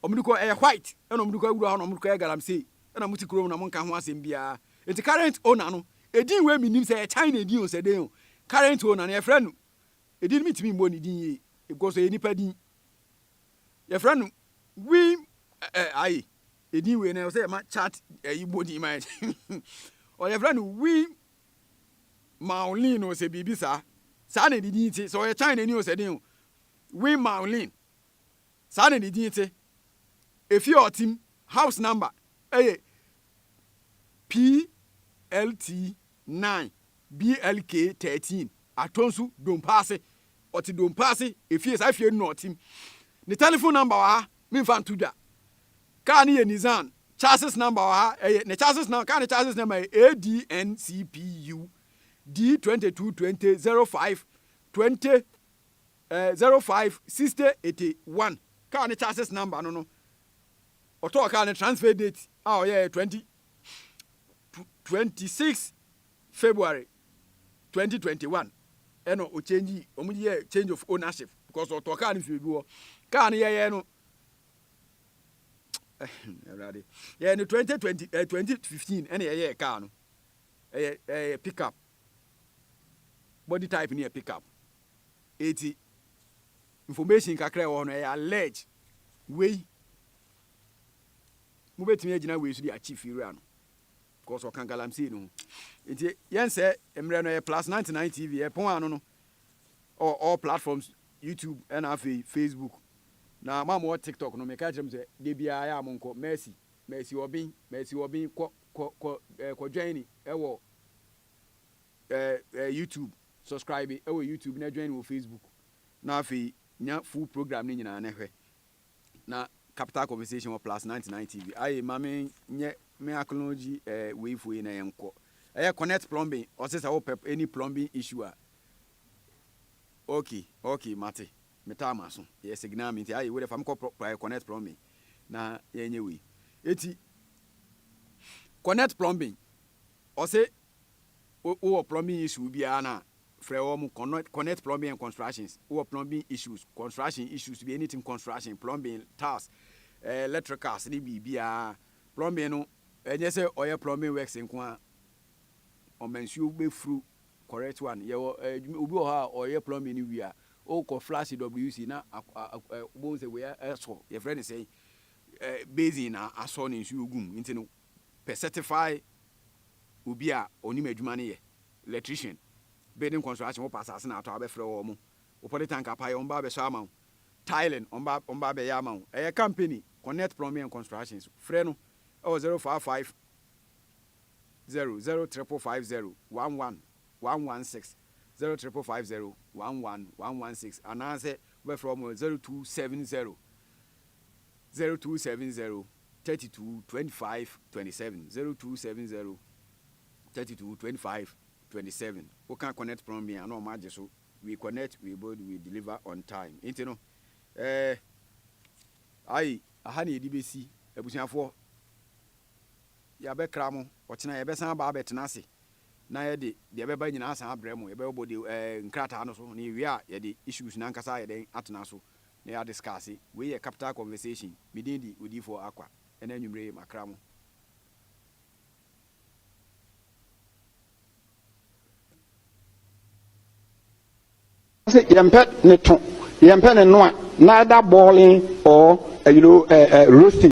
wɔde kɔ ɛyɛ white, ɛna wɔde kɔ awura hɔ na wɔde kɔyɛ galamsey, ɛna mote kurom na monka ho asɛm biara. Nti current owner no, edin wei menim sɛ yɛ China edin o sɛ den o, current owner no yɛfrɛ no, edin no mentumi mmɔ ne din yie, because ɛyɛ nipa din, yɛfrɛ no Wim ɛɛ aye, Edin wei no ɛwɔ sɛ yɛma chart ɛyi bɔ din ma yɛn. Ɔ yɛfrɛ no Win Maolin o sɛ biribi saa. Saa na ne din te. Sɛ ɔyɛ China ni o sɛ den o. Win Maolin. Saa na ne din te. Efie a ɔtem, house number, ɛyɛ PLT 9, BLK 13, Atonsu, Dompaase, Ɔte Dompaase efie saa efie no na ɔte mu. Ne telephone number wɔ ha me nfa nto dwa. Car no yɛ Nissan chasis number wɔ ha ɛyɛ ne chasis na car no chasis number yɛ ADNCPU D twenty two twenty zero five twenty eh, zero five sixty eighty one car no chasis number no no ɔtɔɔ car no transfer date a ɔyɛ twenty twenty six February twenty twenty one ɛna o change wɔn de yɛ change of ownership because ɔtɔ kaa no fie bi wɔ kaa no yɛyɛ no ɛwurade yɛyɛ no twenty twenty ɛ eh, twenty fifteen ɛna yɛyɛ kaa no ɛyɛ ɛyɛ pick up body type no yɛ pick up eti information kakra ɛwɔ hɔ no ɛyɛ alleged wei mobɛtumi agyina wei so de achieve wura no Cos ɔka galamsey no ho. Nti yɛnsɛ mmerɛ no ɛyɛ plus 99 TV ɛpon ano no ɔwɔ all platforms YouTube ɛna afei Facebook na mo a mowɔ tiktok no meka kyerɛ mo sɛ da biara yɛ a monkɔ Mercy Mercy Obin Mercy Obin kɔ kɔ kɔ ɛɛ kɔ join ni ɛwɔ ɛɛ ɛɛ YouTube subscribe ɛwɔ YouTube na join ni wɔ Facebook na afei nya full program no nyinaa na hwɛ. na capital compensation wɔ plus ninety nine tv ayi ma me nyɛ me akɔnɔgyi ɛɛ eh, wei fo yi na yɛn kɔ ɛyɛ connect plumbing ɔsɛ sɛ wopɛ any plumbing issue a okay okay mate metaa ma so yɛ signal me nti ayi wo de fa me kɔ connect plumbing na yɛnyɛ wei eti connect plumbing ɔsɛ Wo wɔ plumbing issue biara na frɛ wɔn connect connect plumbing and constructions wo wɔ plumbing issues construction issues bi anything construction plumbing tiles eh, electricals ne biribiara plumbing no ɛnyɛ sɛ ɔyɛ plumbing works nko a ɔma nsuo bɛfuru correct one yɛwɔ eh, obi wɔ hɔ a ɔyɛ plumbing no wie a wokɔ flash wc na wobɛhu sɛ wei asɔ yɛfrɛ ne sɛn eh, basin na asɔ ne nsuo gum nti no pɛ certify obi a ɔnim adwuma no yɛ, electrician, building construction, wopɛ asase na atɔ a wobɛfrɛ wɔn, wo poly tank apae wɔn ba abɛsɔ ama wo, tiling wɔn ba wɔn ba abɛyɛ ama wo, ɛyɛ company Connect Plumbing and Construction so, frɛ no wɔ zero five five zero zero triple five zero one one one one six zero triple five zero one one one one six anaasɛ wobɛfrɛ wɔn wɔ zero two seven zero zero two seven zero thirty two twenty five twenty seven zero two seven zero thirty two twenty five twenty seven woka connect plumbing a na wɔn agye so we connect we build we deliver on time nti no ɛɛ ayi aha na yɛde bɛsi abusuafoɔ yɛabɛkra mo ɔkyena yɛbɛsan aba abɛtena ase na yɛde deɛ ɛbɛba nyinaa san abrɛ mo yɛbɛbɔ de ɛɛ nkrataa no so na yɛwie a yɛde issues no ankasa yɛde atena so na yɛa discuss. Wei yɛ capital conversation. Me din de Odiyifoɔ Akwa. Ɛna anwumerɛ yi makra mo. Ɔse yɛmpɛ ne to, yɛmpɛ ne noa, neither boiling or uh, you know, uh, uh, roasting.